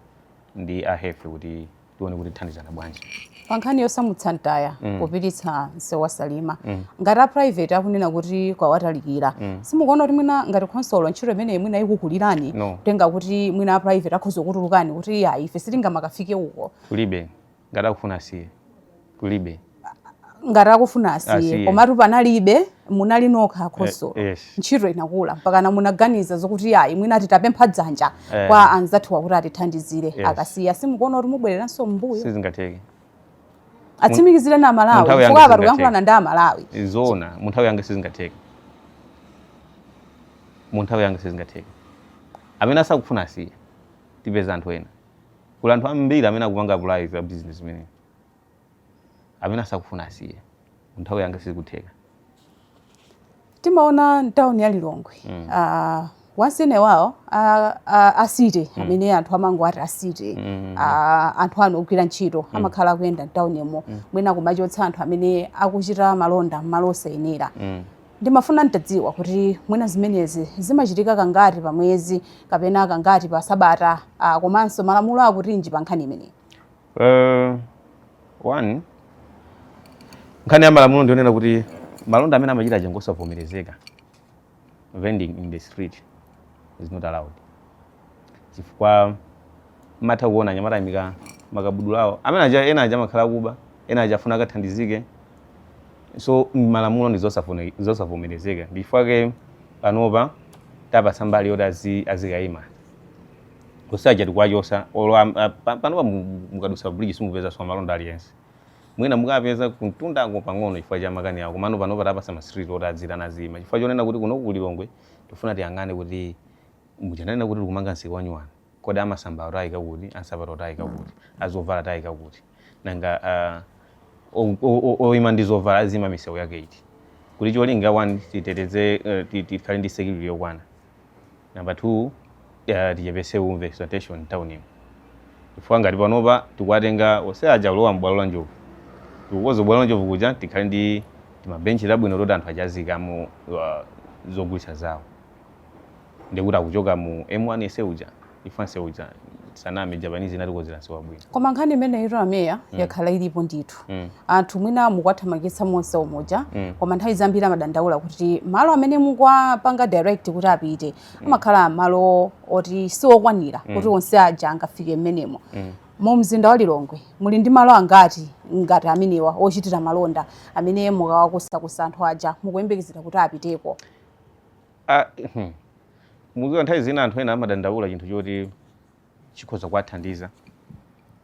ndi a health kuti tione kuti tithandizana bwanji pa nkhani yosamutsa mtaya mm. kupititsa msewu wa salima mm. ngati a private akunena kuti kwawatalikira mm. simukuona kuti mwina ngati khonsolo ntchito imeneyi mwina ikukulirani no. potengera kuti mwina a private akhoza kutulukamo kuti ah ife sitingamakafike uko kulibe ngati akufuna asiye kulibe ngati akufuna asiye Asiye. komatu apa analibe munali nokha akhonsolo Eh, yes. ntchito inakula mpakana munaganiza zokuti ayi mwina titapempha dzanja Eh. kwa anzathuwa kuti atithandizire Yes. akasiya simukuona kuti mubwereranso mbuyo sizingatheke atsimikizireni Munthawi amalawi yanga chifukwa apa sizingatheke. tikuyankhulana ndi amalawi zoona mu nthawi yanga sizingatheke mu nthawi yanga sizingatheke amene asakufuna asiye tipeza anthu ena kuli anthu ambiri amene akupanga apulayi za bizinesi imeneyi amene asakufuna asiye nthawi yanga sizikutheka timaona mtawuni ya lilongwe mm. uh, once in a while a, a, a city mm. amene anthu amango ati a city mm. a, anthu anu ogwira ntchito mm. amakhala akuyenda mtawunimo mm. mwina kumachotsa anthu amene akuchita malonda mmalo osayenera mm. ndimafuna ntadziwa kuti mwina zimenezi zimachitika kangati pa mwezi kapena kangati pa sabata uh, komanso malamulo akutinji pa nkhani imeneyi Uh, one nkhani ya malamulo ndionena kuti malonda amene amachita aja ngosavomerezeka vending in the street is not allowed chifukwa mmatha kuona anyamata aimika makabudula awo amene aja ena aja amakhala akuba ena aja afuna akathandizike so malamulo ndi zosafune- zosavomerezeka ndichifukwake panopa tapatsa mbali yoti azi- azikayima onse aja tikuwachosa olo am- a- pa- panopa mu- mu- mukadusa bridge simupezanso amalonda aliyense mwina mukapeza kumtundako pang'ono chifukwa cha makani awo komano panopa tapasa ma street oti adzira nazima chifukwa chonena kuti kuno ku Lilongwe tifuna tiyang'ane kuti muja ndanena kuti tikumanga msika wanyuwani kodi amasamba tiwayika kuti ansapato tiwayika kuti azovala tiwayika kuti nanga ah, o- o- o- oyima ndi zovala azima misewu yake iti kuti cholinga one titeteze eh, ti- tikhale ndi security yokwana Number 2 uh, tichepese umve sanitation mtown ino chifukwa ngati panopa tikuwatenga onse aja kulowa m'bwalo la njovu tikukoza bwalo la njovu kuja tikhale ndi timabenchi tabwino toti anthu aja aziikamo uh, zogulitsa zawo ndikuti akuchoka mu m1 yense uja chifukwa nsewu uja tisaname japanese inatikozera nsewu wabwino koma nkhani imeneyitu a meya mm. yakhala ilipo ndithu mm. anthu mwina mukwathamangitsa monse umoja mm. koma nthawi zambiri amadandaula kuti malo amene mukwapanga direct kuti apite mm. amakhala malo oti siwokwanira mm. kuti onse aja angafike mmenemo mm. mu mzinda wa lilongwe muli ndi malo angati ngati amenewa ochitira malonda amene mukawakusakusa anthu aja mukuyembekezera kuti apiteko Ah, hmm. muziwa nthawi zina anthu ena amadandaula chinthu choti chikhoza kuwathandiza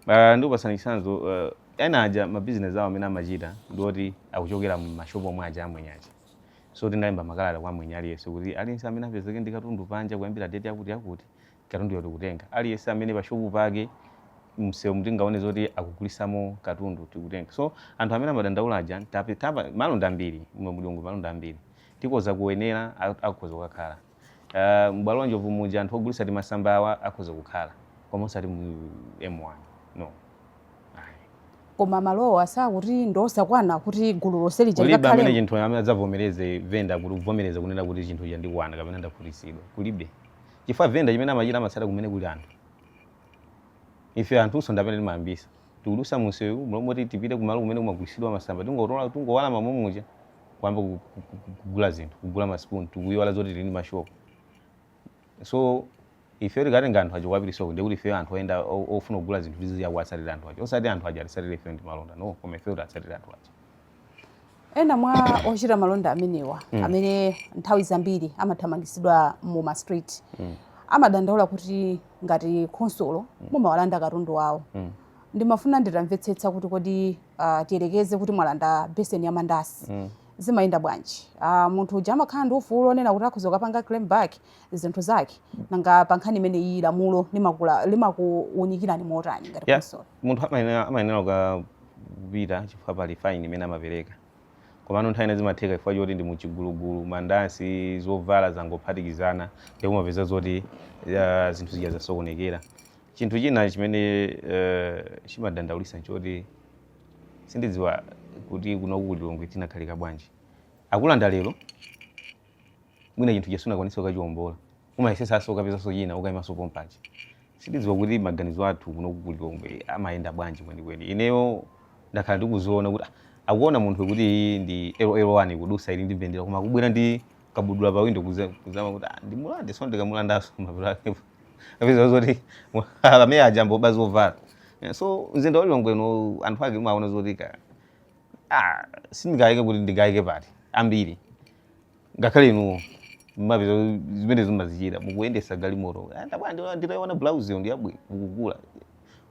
uh, ndikupasani chitsanzo uh, ena aja mabizinesi awo amene amachita ndioti akuchokera mmashopu omwe aja amwenye aja so tinalemba makalata kwa mwenye aliyense kuti aliyense amene apezeke ndi katundu panja kuyambira deti yakuti yakuti katunduyo tikutenga aliyense amene pashopu pake msewumu tingaone zoti akugulisamo katundu tikutenga so anthu amene amadandaula aja malonda ambiri mu Lilongwe malonda ambiri Tikoza ku Wenela akhoza kukakhala. M'bwalo la Njobvu muja anthu ogulitsa timasamba awa akhoza kukhala koma osati mu M1. No. Ayi. Koma malowa sakuti ndi osakwana kuti gulu lonse lija Kulibe amene likakhalemo. chinthu amene adzavomereze venda kuti kuvomereza kunena kuti chinthu chija chandikwana kapena ndakhutitsidwa. Kulibe. Chifukwa venda chimene amachita amatsata kumene kuli anthu. Ife anthunso ndi amene timayambisa. Tikudutsa munsewu mmalo moti tipite kumalo kumene kumagulitsidwa masamba tingotola tingowerama mommuja. kuyamba ku- ku- ku- ku- kugula zinthu kugula maspoon tikuyiwala zoti tili ndi mashopu so ife tikatenga anthu aja kuwapitisako ndikuti ife anthu oyenda o- ofuna kugula zinthu tiziya kuwatsatira anthu aja osati anthu aja atisatire ife ndi malonda no koma ife tiwatsatire anthu aja ena mwa ochita malonda amenewa amene nthawi zambiri amathamangitsidwa mu ma street amadandaula kuti ngati khonsolo mumawalanda katundu wawo ndimafuna nditamvetsetsa kuti kodi uh, tiyerekeze kuti mwalanda beseni ya mandasi mm. zimayenda bwanji uh, munthu uja amakhala ndi ufulu onena kuti akhoza kukapanga claim back zinthu zake nanga pa nkhani imene iyi lamulo limakuunikirani motani ngati khonsolo yeah. munthu amayenera kupita chifukwa pali faini imene amapereka komano nthawi ina zimatheka chifukwa choti ndi muchigulugulu mandasi zovala zangophatikizana ndikumapeza zoti uh, zinthu zija zasokonekera Chinthu china chimene chimadandaulitsa n'choti sindidziwa kuti kunoku ku Lilongwe tinakhalika bwanji. Akulanda lero, mwina chinthu chija sunakwanitse kukachiwombola, umayesetsanso kukapezanso china ukaimanso pompaja. Sindidziwa kuti maganizo athu kunoku ku Lilongwe amayenda bwanji kwenikweni. Ineyo ndakhala ndikuziona kuti, ah, akuona munthu kuti iyi ndi LL1 ikudutsa ili ndi mbendera koma akubwera ndi kabudula pawindo kudzanena kuti, ah, ndimulande, tsono ndikamulandanso mapeto ake. apeza zoti amene aja ngoba zovala Eh, so mzinda wa lilongwe no anthu ake umaona zoti ka ah, sindikayike kuti ndikayike pati ambiri ngakhale inuwo mmapeza zimene zimazichita mukuyendesa galimoto Ah, ndabwa ndi- ndaiona blouse yo ndiyabwino mukugula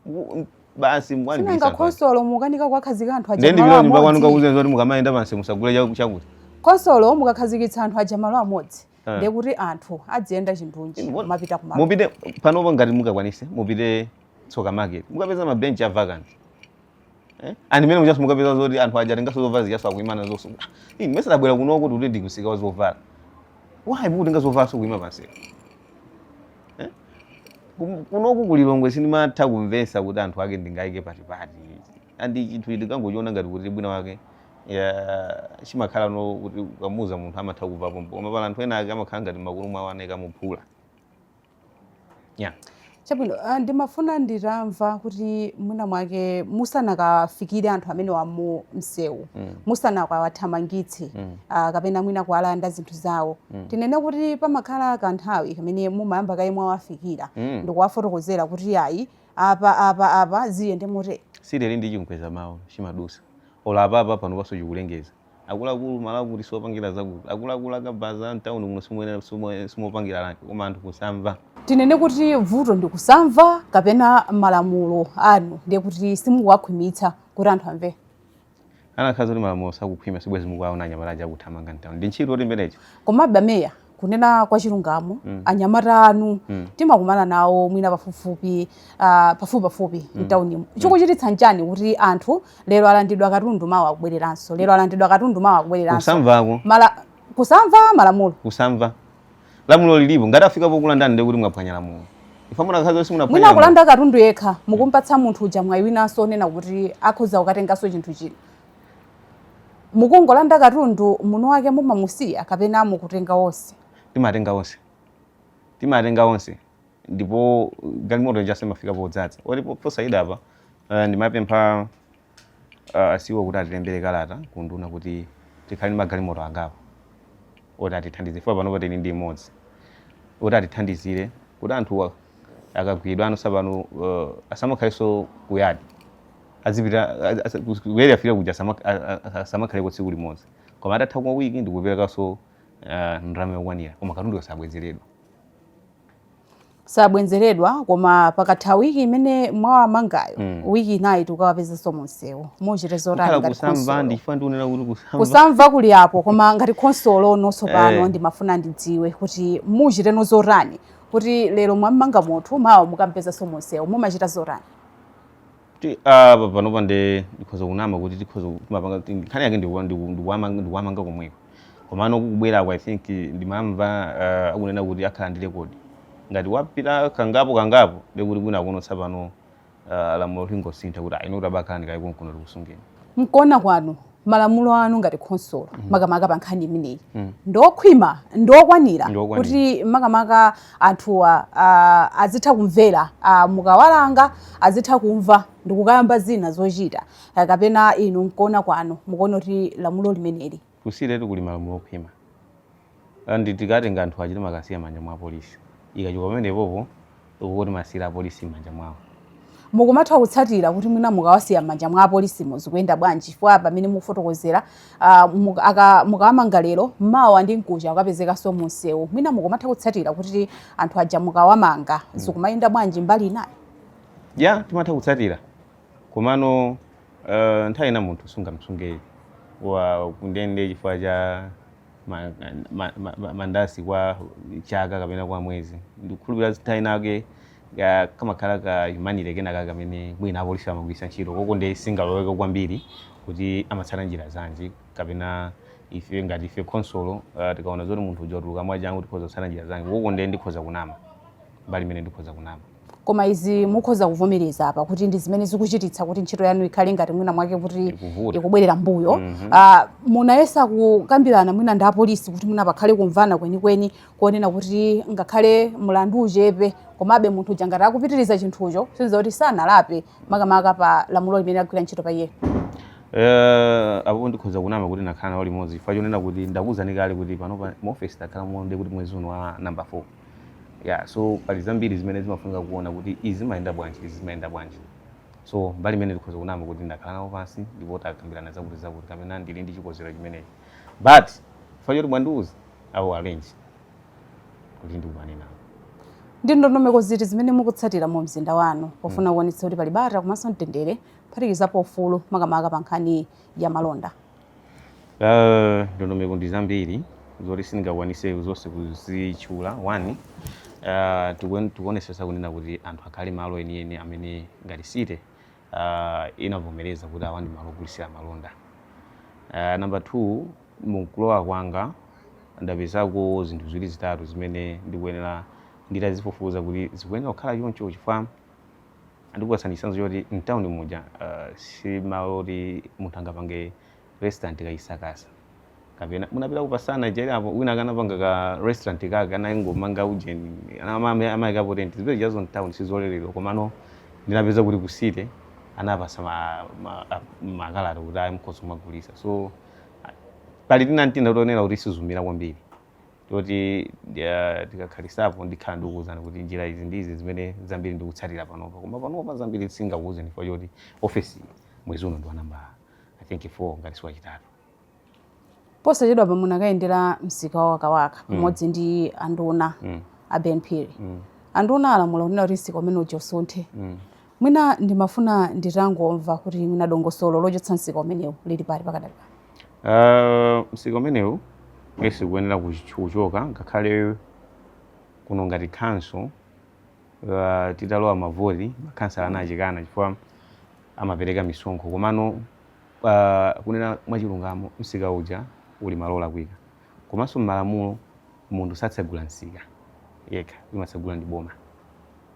Muku- basi mwaibisa sinanga khonsolo mukanika kuwakhazika anthu aja ndiye malo ndipita nyumba kwanu amodzi kakuuzani zoti mukamayenda pansi musagule chaku- chakuti khonsolo mukakhazikitsa anthu aja malo amodzi Eh. ndiye kuti anthu adziyenda chindunji Inu, kumapita kumalo mupite panopo ngati mungakwanise mupite tsoka market mukapeza mabenchi a vacant Eh? and mmene mujaso mukapeza zoti anthu aja atengaso zovala zijaso akuima nazonso ine mesa tabwera kunoko kuti ndi kumsika wa zovala why mukutenga zovalanso kuima pansepo Eh? Kum- kunoku kulilongwe sindimatha kumvesa kuti anthu ake ndingaike pati pati and chinthu choti tikangochiona ngati kuti mwina mwake yeah chimakhala no kuti ukamuuza munthu amatha kumva pompo koma pali anthu ena ake amakhala ngati m'makutu mwawo anaika muphula yeah chabwino ah, ndimafuna nditamva kuti mwina mwake musanakawafikire anthu amenewa mu msewu mm. musanakawathamangitse mm. ah, kapena mwina kuwalanda zinthu zawo mm. tinene kuti pamakhala kanthawi kamene mumayamba kaye mwawafikira mm. ndikuwafotokozera kuti ayi Apa, apa, apa ziyende motere. City ili ndi chimkweza mawu chimadusa. Olo apapa panopanso chikulengeza. Akuluakulu malo akuti siwopangira zakuti. Akuluakulu a kabaza mtauni muno simopangira rank koma anthu kusamva. Tinene kuti vuto ndi kusamva kapena malamulo anu ndiye kuti simukuwakhwimitsa kuti anthu amve? Kunakakhala zoti malamulo sakukhwima sibwezi mukuwaona anyamata aja akuthamanga mtown. Ndi ntchito yoti imene ija? Komabe a Mayor kunena kwa chilungamo mm. anyamata anu mm. timakumana nawo mwina pafupifupi uh, pafupipafupi mm. mtaunimu mm. chikuchititsa nchani kuti anthu lero alandidwa katundu mawa akubwereranso lero alandidwa katundu mawa akubwereranso kusamva mala kusamva malamulo kusamva lamulo lilipo ngati afika pokulandani ndiye kuti mwaphwanya lamulo ife munakhala zonse mwina munaphwanya lamulo. kulanda katundu yekha mukumpatsa munthu uja mwayi winanso onena kuti akhoza kukatenganso chinthu china mukungolanda katundu munthu wake mumamusiya kapena mukutenga onse timatenga onse timatenga onse ndipo galimoto ija simafika podzadza oti po- posaika apa eh, ndimapempha a CEO kuti atilembere kalata kunduna kuti tikhale ndi magalimoto angapo oti atithandize chifukwa panopa tili ndi imodzi oti atithandizire kuti anthuwa akagwidwa ano tsopano uh, asamakhalenso kuyadi azipita ku Area 3 akafika kuja asama- a- a- a- asamakhaleko tsiku limodzi koma atathako wiki ndikuperekanso uh, ndalama yokwanira koma katundu kasabwezeredwa sabwezeredwa koma pakatha wiki imene mwawamangayo mm. wiki inayo tikawapezanso munsewu muchite zotani ngati kusamva kuli apo koma ngati khonsolo no tsopano eh. ndimafuna ndidziwe kuti muchiteno zotani kuti lero mwammanga munthu mawa mukampezanso munsewu mumachita zotani Kuti apa panopa nde ndikhoza kunama kuti tikhoza kumapanga kuti nkhani yake ndikuwa- ndiku- ndikuwamanga ndikuwamanga komweko komano kukubwerako i think ndimamva ah, akunena kuti akhala ndi rekodi ngati wapita kangapo kangapo ndekuti kwinakuno tsopano ah, lamulo lingosintha kuti ayi no kuti abakhalani kaye konkuno tikusungeni Mkuona kwanu malamulo anu ngati khonsolo mm. makamaka pa nkhani imeneyi mm. ndiokhwima ndiokwanira kuti makamaka anthuwa uh, azitha kumvera uh, mukawalanga azitha kumva ndikukayamba zina zochita uh, kapena inu mkuona kwanu mukuona kuti lamulo limeneli tisiyiretu kuli malamulo okhwima and tikatenga anthu aja timakasiya m'manja mwa apolisi ikachoka pamenepopo ukuko timasiyira apolisi m'manja mwawo mukumatha kutsatira kuti mwina mukawasiya m'manja mwa apolisi zikuyenda bwanji chifukwa pamene mukufotokozera uh, mukawamanga lero mawa ndi mkuja akapezekanso munsewu mwina mukumatha kutsatira kuti anthu aja mukawamanga mm. zikumayenda bwanji mbali inayo ya yeah, timatha kutsatira komano uh, nthawi ina munthu sungamusunge kundende chifukwa cha ma, ma, ma, ma, mandasi kwa chaka kapena kwa mwezi ndikukhulupirira nthawi inake ka- kamakhala ka humanity kenakake kamene mwina apolisi amagwiritsa ntchito koko nde sindingaloweko kwambiri kuti amatsata njira zanji kapena ife ngati ife khonsolo uh, tikaona zoti munthu uja watuluka mwachangu tikhoza kutsata njira zanji koko nde ndikhoza kunama mbali imene ndikhoza kunama koma izi mukhoza kuvomereza apa kuti ndi zimene zikuchititsa kuti ntchito yanu ikhale ngati mwina mwake kuti Ikuvuta. ikubwerera mbuyo mm -hmm. munayesa kukambirana mwina ndi apolisi kuti mwina pakhale kumvana kwenikweni kuonena kuti ngakhale mlandu uchepe komabe munthu uja ngati akupitiriza chinthucho nchisonyezo kuti sanalape makamaka pa lamulo limene agwira ntchito pa iyeyo Eh, apo ndikhoza kunama kuti nakhala nawo limodzi chifukwa chonena kuti ndakuwuzani kale kuti panopa mu office takhala muona kuti mwezi uno wa number 4 yeah so pali zambiri zimene zimafunika kuona kuti izi zimayenda bwanji izi zimayenda bwanji so mbali imene ndikhoza kunama kuti ndakhala nawo pansi ndipo takambirana zakuti zakuti kapena ndili ndi chikonzero chimenechi but chifukwa choti mwandiuza I will arrange kuti ndikumane nawo ndi ndondomeko ziti zimene mukutsatira mu mzinda wanu pofuna kuonetsa kuti pali bata komanso mtendere kuphatikizapo ufulu makamaka pa nkhani ya malonda Uh, ndondomeko ndi zambiri zoti sindingakwanise zonse kuzitchula one uh, tikuen- tikuonesesa kunena kuti anthu akhale malo enieni amene ngati city uh, inavomereza kuti awa ndi malo ogulitsira malonda uh, number two mukulowa kwanga ndapezako zinthu ziwiri zitatu zimene ndikuyenera nditazifufuza kuti zikuyenera kukhala choncho chifukwa Ndikupatsani chitsanzo choti mtauni muja uh, si malo oti munthu angapange restaurant kayisakasa kapena munapita kupasana cherapo wina akanapanga ka restaurant kake anangomanga ujeni amayikapo tenti zipeza chazo mtauni sizoleredwa komano ndinapeza kuti ku city anapasa makalata kuti ayi mukhoza kumagulisa so pali tina n'tina tonena kuti sizumira kwambiri toti uh, tikakhalisapo ndikhala ndikuwuzani kuti njira izi ndi izi zimene zambiri ndikutsatira panopa koma panopa zambiri singakuwuzeni chifukwa choti ofesi mwezi uno ndi wa namba i think 4 ngati siwachitatu posachedwapa munakayendera msika wa wakawaka mm. pamodzi mm. ndi anduna mm. a ben phiri mm. anduna alamula kunena kuti msika umene uja usunthe mm. Mwina ndimafuna nditangomva kuti mwina dongosolo lochotsa msika umenewu lili pati pakadali pano. Uh, msika umenewu yes ukuyenera kuchoka ngakhale kuno ngati khonsolo uh, titalowa mavoti makhansala anazikana chifukwa amapereka misonkho komano uh, kunena mwachilungamo msika uja uli malo olakwika komanso m'malamulo munthu satsegula msika yekha imatsegula ndi boma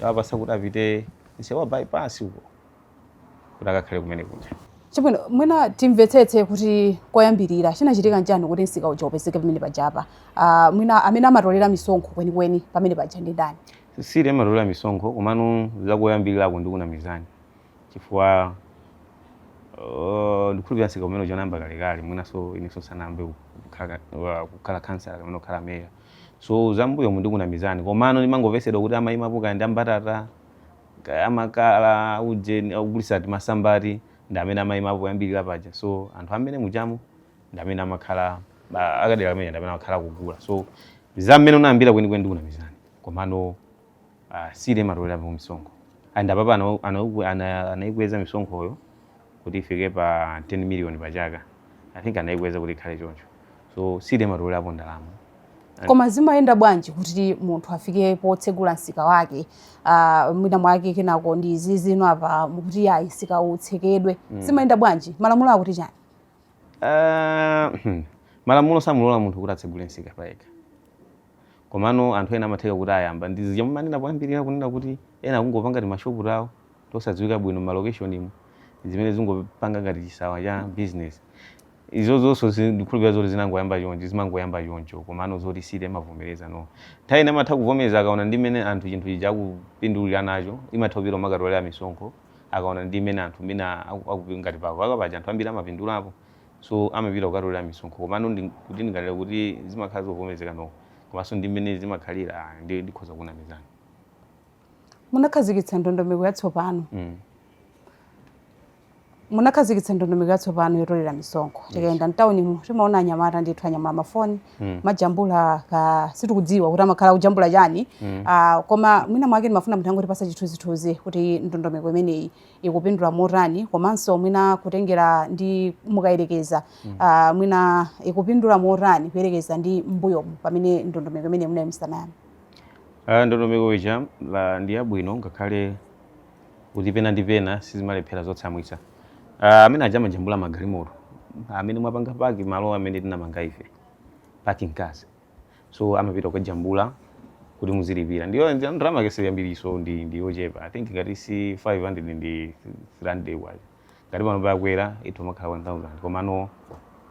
tawapasa kuti apite msewu wa bypass uko kuti akakhale kumene kuja Chabwino, mwina timvetsetse kuti koyambirira chinachitika nchani kuti msika uja upezeke pamene pajapa. Uh, mwina amene amatolera misonkho kwenikweni pamene paja ndi ndani? city amatolera misonkho komano zakoyambirirako ndikunamizani chifukwa uh, ndikhulupirira msika umene uja unayamba kalekale mwinanso inenso sanayambe kukhala- wa- kukhala khansala kapena kukhala meya so zambuyomu ndikunamizani komano ndimangovesedwa kuti amaimapo kaya ndi ambatata kaya amakala aujeni ogulisa timasambati ndi amene amaimapo poyambilila paja so anthu amene mujamo ndi amene amakhala akadera kameneka ndi amene amakhala akugula so za mmene unayambira kwenikweni ndikunamizani komano Ah, city imatolerapo misonkho and apapa ana- ana- ana- anaikweza misonkhoyo kuti ifike pa 10 million pa chaka i think anaikweza kuti ikhale choncho so city imatolerapo ndalama koma zimayenda bwanji kuti munthu afike potsegula msika wake uh, mwina mwake kenako ndi izi zino apa mukuti ayi msika utsekedwe zimayenda bwanji malamulo akuti chani Ah, malamulo samulola munthu kuti atsegule msika payekha Komano anthu ena amatheka kuti ayamba ndi zija mumanena poyambirira kunena kuti ena akungopanga timashopu tawo tosadziwika bwino m'malokeshonimu zimene zikungopanga ngati chisawawa cha bizinesi. Izozonso zi- ndikukhulupirira zoti zinangoyamba choncho, zimangoyamba choncho komano zoti city imavomereza no. Nthawi ina amatha kuvomereza akaona ndi mmene anthu chinthu chija akupindulira nacho, imatha kupita kumakatolera misonkho akaona ndi mmene anthu mwina aku- akupi- ngati pa Wakawaka paja anthu ambiri amapindulapo. so amapita kukatolera misonkho komano ndi kuti ndingalole kuti zimakhala zovomerezeka no komanso ndi mmene zimakhalira ah, ndi ndikhoza kunamizani munakhazikitsa ndondomeko yatsopano mm. munakhazikitsa ndondomeko yatsopano yotolera misonkho tikayenda mtawunimu timaona anyamata ndithu anyamula mafoni mm. amajambula ka sitikudziwa kuti amakhala akujambula chani mm. uh, koma mwina mwake ndimafuna mutangotipatsa chithunzithunzi kuti ndondomeko imeneyi ikupindula motani komanso mwina kutengera ndi mukayerekeza mm. uh, mwina ikupindula motani kuyerekeza ndi mbuyomu pamene ndondomeko imene munayi musanayani uh, ah, ndondomeko ija ndi yabwino ngakhale kuti pena ndi pena sizimalephera zotsamwitsa uh, amene aja amajambula magalimoto amene mwapanga paki malo amene tinamanga ife parking cars so amapita kukajambula kuti muzilipira ndiyo ndi- ndalama yake siyambiriso ndi ndi yochepa i think ngati si 500 ndi 300 kwacha ngati pano pakwera ndithu amakhala 1000 komano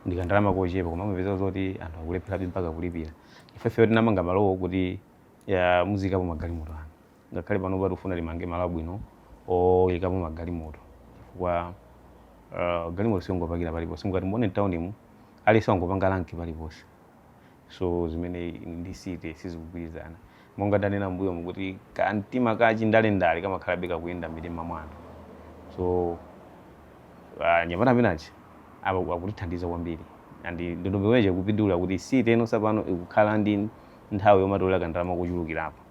ndikandalama kochepa koma amapeza zoti anthu akulepherabe mpaka kulipira ifefe tinamanga malowo kuti ya muziikapo magalimoto anu ngakhale panopa tikufuna timange malo abwino oyikapo magalimoto chifukwa uh, galimoto siungopakira paliponse mukati muone mtaunimu aliyense wangopanga lanki paliponse so zimene ndi city sizikugwirizana monga ndanena mbuyomu kuti kamtima kachindalendale kamakhalabe kakuyenda m'mitima mwa anthu so ah, anyamata amene aja apa- akutithandiza kwambiri and ndondomeko ija ikupindula kuti city ino tsopano ikukhala ndi nthawi yomatolera kandalama kochulukirapo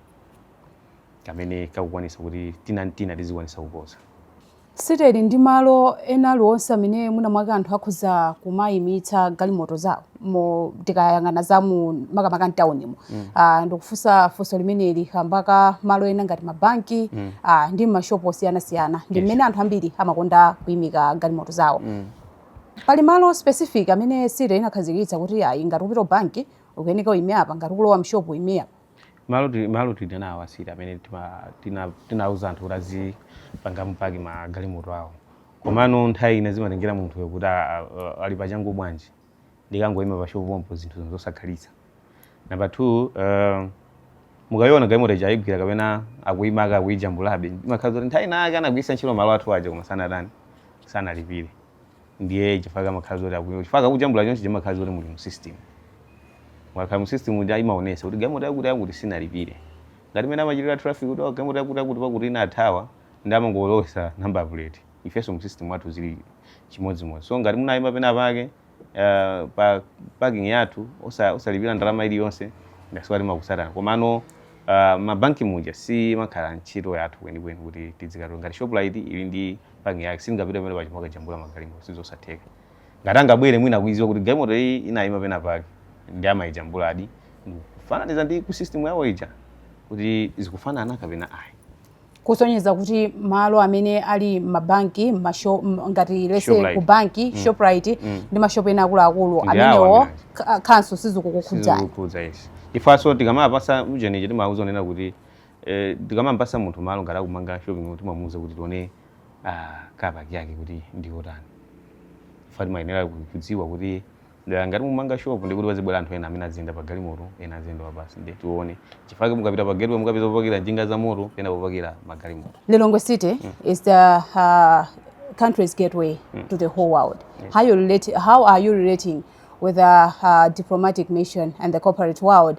kamene kakukwanisa kuti tina ndi tina tizikwanisa kuposa City ili ndi malo ena aliwonse amene mwina mwake anthu akhoza kumayimitsa galimoto zawo mo tikayang'ana za mu makamaka mtawunimo mm. uh, ndikufunsa funso limeneli kamba ka malo ena ngati mabanki mm. uh, ndi mashopu osiyanasiyana ndi mmene yes. anthu ambiri amakonda kuyimika galimoto zawo mm. pali malo specific amene city inakhazikitsa kuti ayi ngati ukupita banki ukuyeneka uyime apa ngati ukulowa mshopu uyime apa malo ti- malo tili nawo a city amene tima- tina- tinauza anthu kuti azipangamo park magalimoto awo komano nthawi ina zimatengera munthuyo kuti a- a- a- ali pachangu bwanji ndikangoyima pashopu pompo zinthu zosakhalitsa namba two uh, mukayiona galimoto ija ayigwira kapena akuyima aka akuyijambulabe imakhala zoti nthawi inayake anagwiritsa ntchito malo athu aja koma sanatani sanalipire ndiye chifukwa kamakhala zoti akuyo chifukwa kakujambula chonse chimakhala zoti muli mu system mwakhala mu system uja imaonesa kuti galimoto yakuti yakuti sinalipire ngati mmene amachitira traffic kuti "Oh, galimoto yakuti yakuti pakuti inathawa ndi amangolowesa number plate ifenso mu system wathu zili chimodzimodzi so ngati munayima pena pake eh, pa parking yathu osa- osalipira ndalama iliyonse ndasiwa timakusatani komano uh, mabanki muja siimakhala ntchito yathu kwenikweni kuti tidzikatola ngati shoprite ili ndi parking yake sangapite pamene paja mwina akajambula magalimoto sizosatheka ngati angabwere mwina akuiziwa kuti galimoto iyi inayima pena pake ndi amayijambuladi kufananiza ndi ku system yawo ija kuti zikufanana kapena ayi kusonyeza kuti malo amene ali mabanki masho, ngati let's say ku banki mm. shoprite mm. ndi mashopu ena akuluakulu amenewo council sizikukukhudzani ifenso tikamapasa ujeni timauza zonena kuti Eh tikamampasa munthu malo ngati akumanga shopping mall timamuuza kuti tione car park yake kuti ndiyotani. Chifukwa timayenera kudziwa kuti dera ngati mumanga shop ndekuti pazibwera anthu ena amene aziyenda pa galimoto ena aziyenda pa bus ndiye tione. Chifukwa chake mukapita pa gateway mukapeza popakira njinga za moto pena popakira magalimoto. Lilongwe City is the uh, country's gateway to the whole world. How you relate how are you relating with the uh, diplomatic mission and the corporate world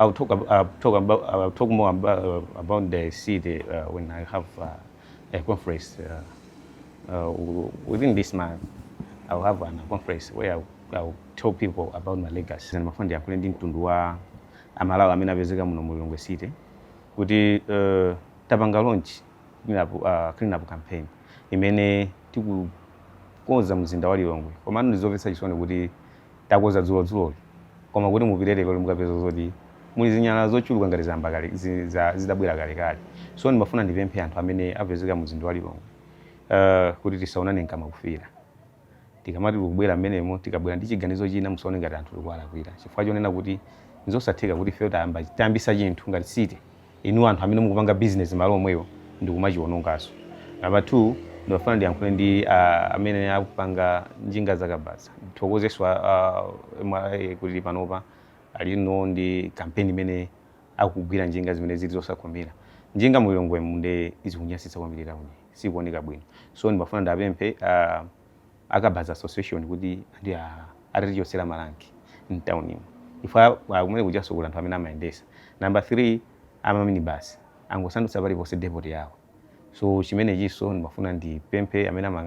I will talk, ab- uh, talk about I will talk more about, uh, about the city uh, when I have uh, a conference uh, uh, w- within this month. I will have a conference where I will, I will tell people about my legacy. And ndimafuna ndiyankhule ndi mtundu wa amalawi amene apezeka muno mu Lilongwe city kuti uh, tapanga launch clean up, uh, clean up campaign imene tikukonza mzinda wa Lilongwe komano ndizomvetsa chisoni kuti takonza dzulodzuloli koma kuti mupite leroli mukapeza zoti muli zinyalala zochuluka ngati zayamba kale zi- za- zitabwera kalekale so ndimafuna ndipemphe anthu amene apezeka mu mzinda wa lilongwe uh, kuti tisaonane mkamwa kufiira tikamati tikubwera mmenemo tikabwera ndi chiganizo china musaone ngati anthu tikuwalakwira chifukwa chonena kuti nzosatheka kuti ifeyo tayamba- tayambisa chinthu ngati city inu anthu amene mukupanga business malo omwewo ndi kumachiwonongaso number 2 ndimafuna ndiyankhule ndi a amene akupanga njinga zakabaza ndithokozeso a a mra kuti panopa alinso ndi campaign imene akugwira njinga zimene zili zosakhomera njinga mulilongwemu nde zikunyasitsa kwambiri tauni sikuoneka bwino so ndimafuna ndiapemphe a akabaza association kuti andi a atatichotsera maranki mtaunimu chifukwa kumene kujaso kuli anthu amene amayendesa namba 3 amaminibasi angosandutsa paliponse depoti yawo so chimenechinso ndimafuna ndipemphe amene amayang'anira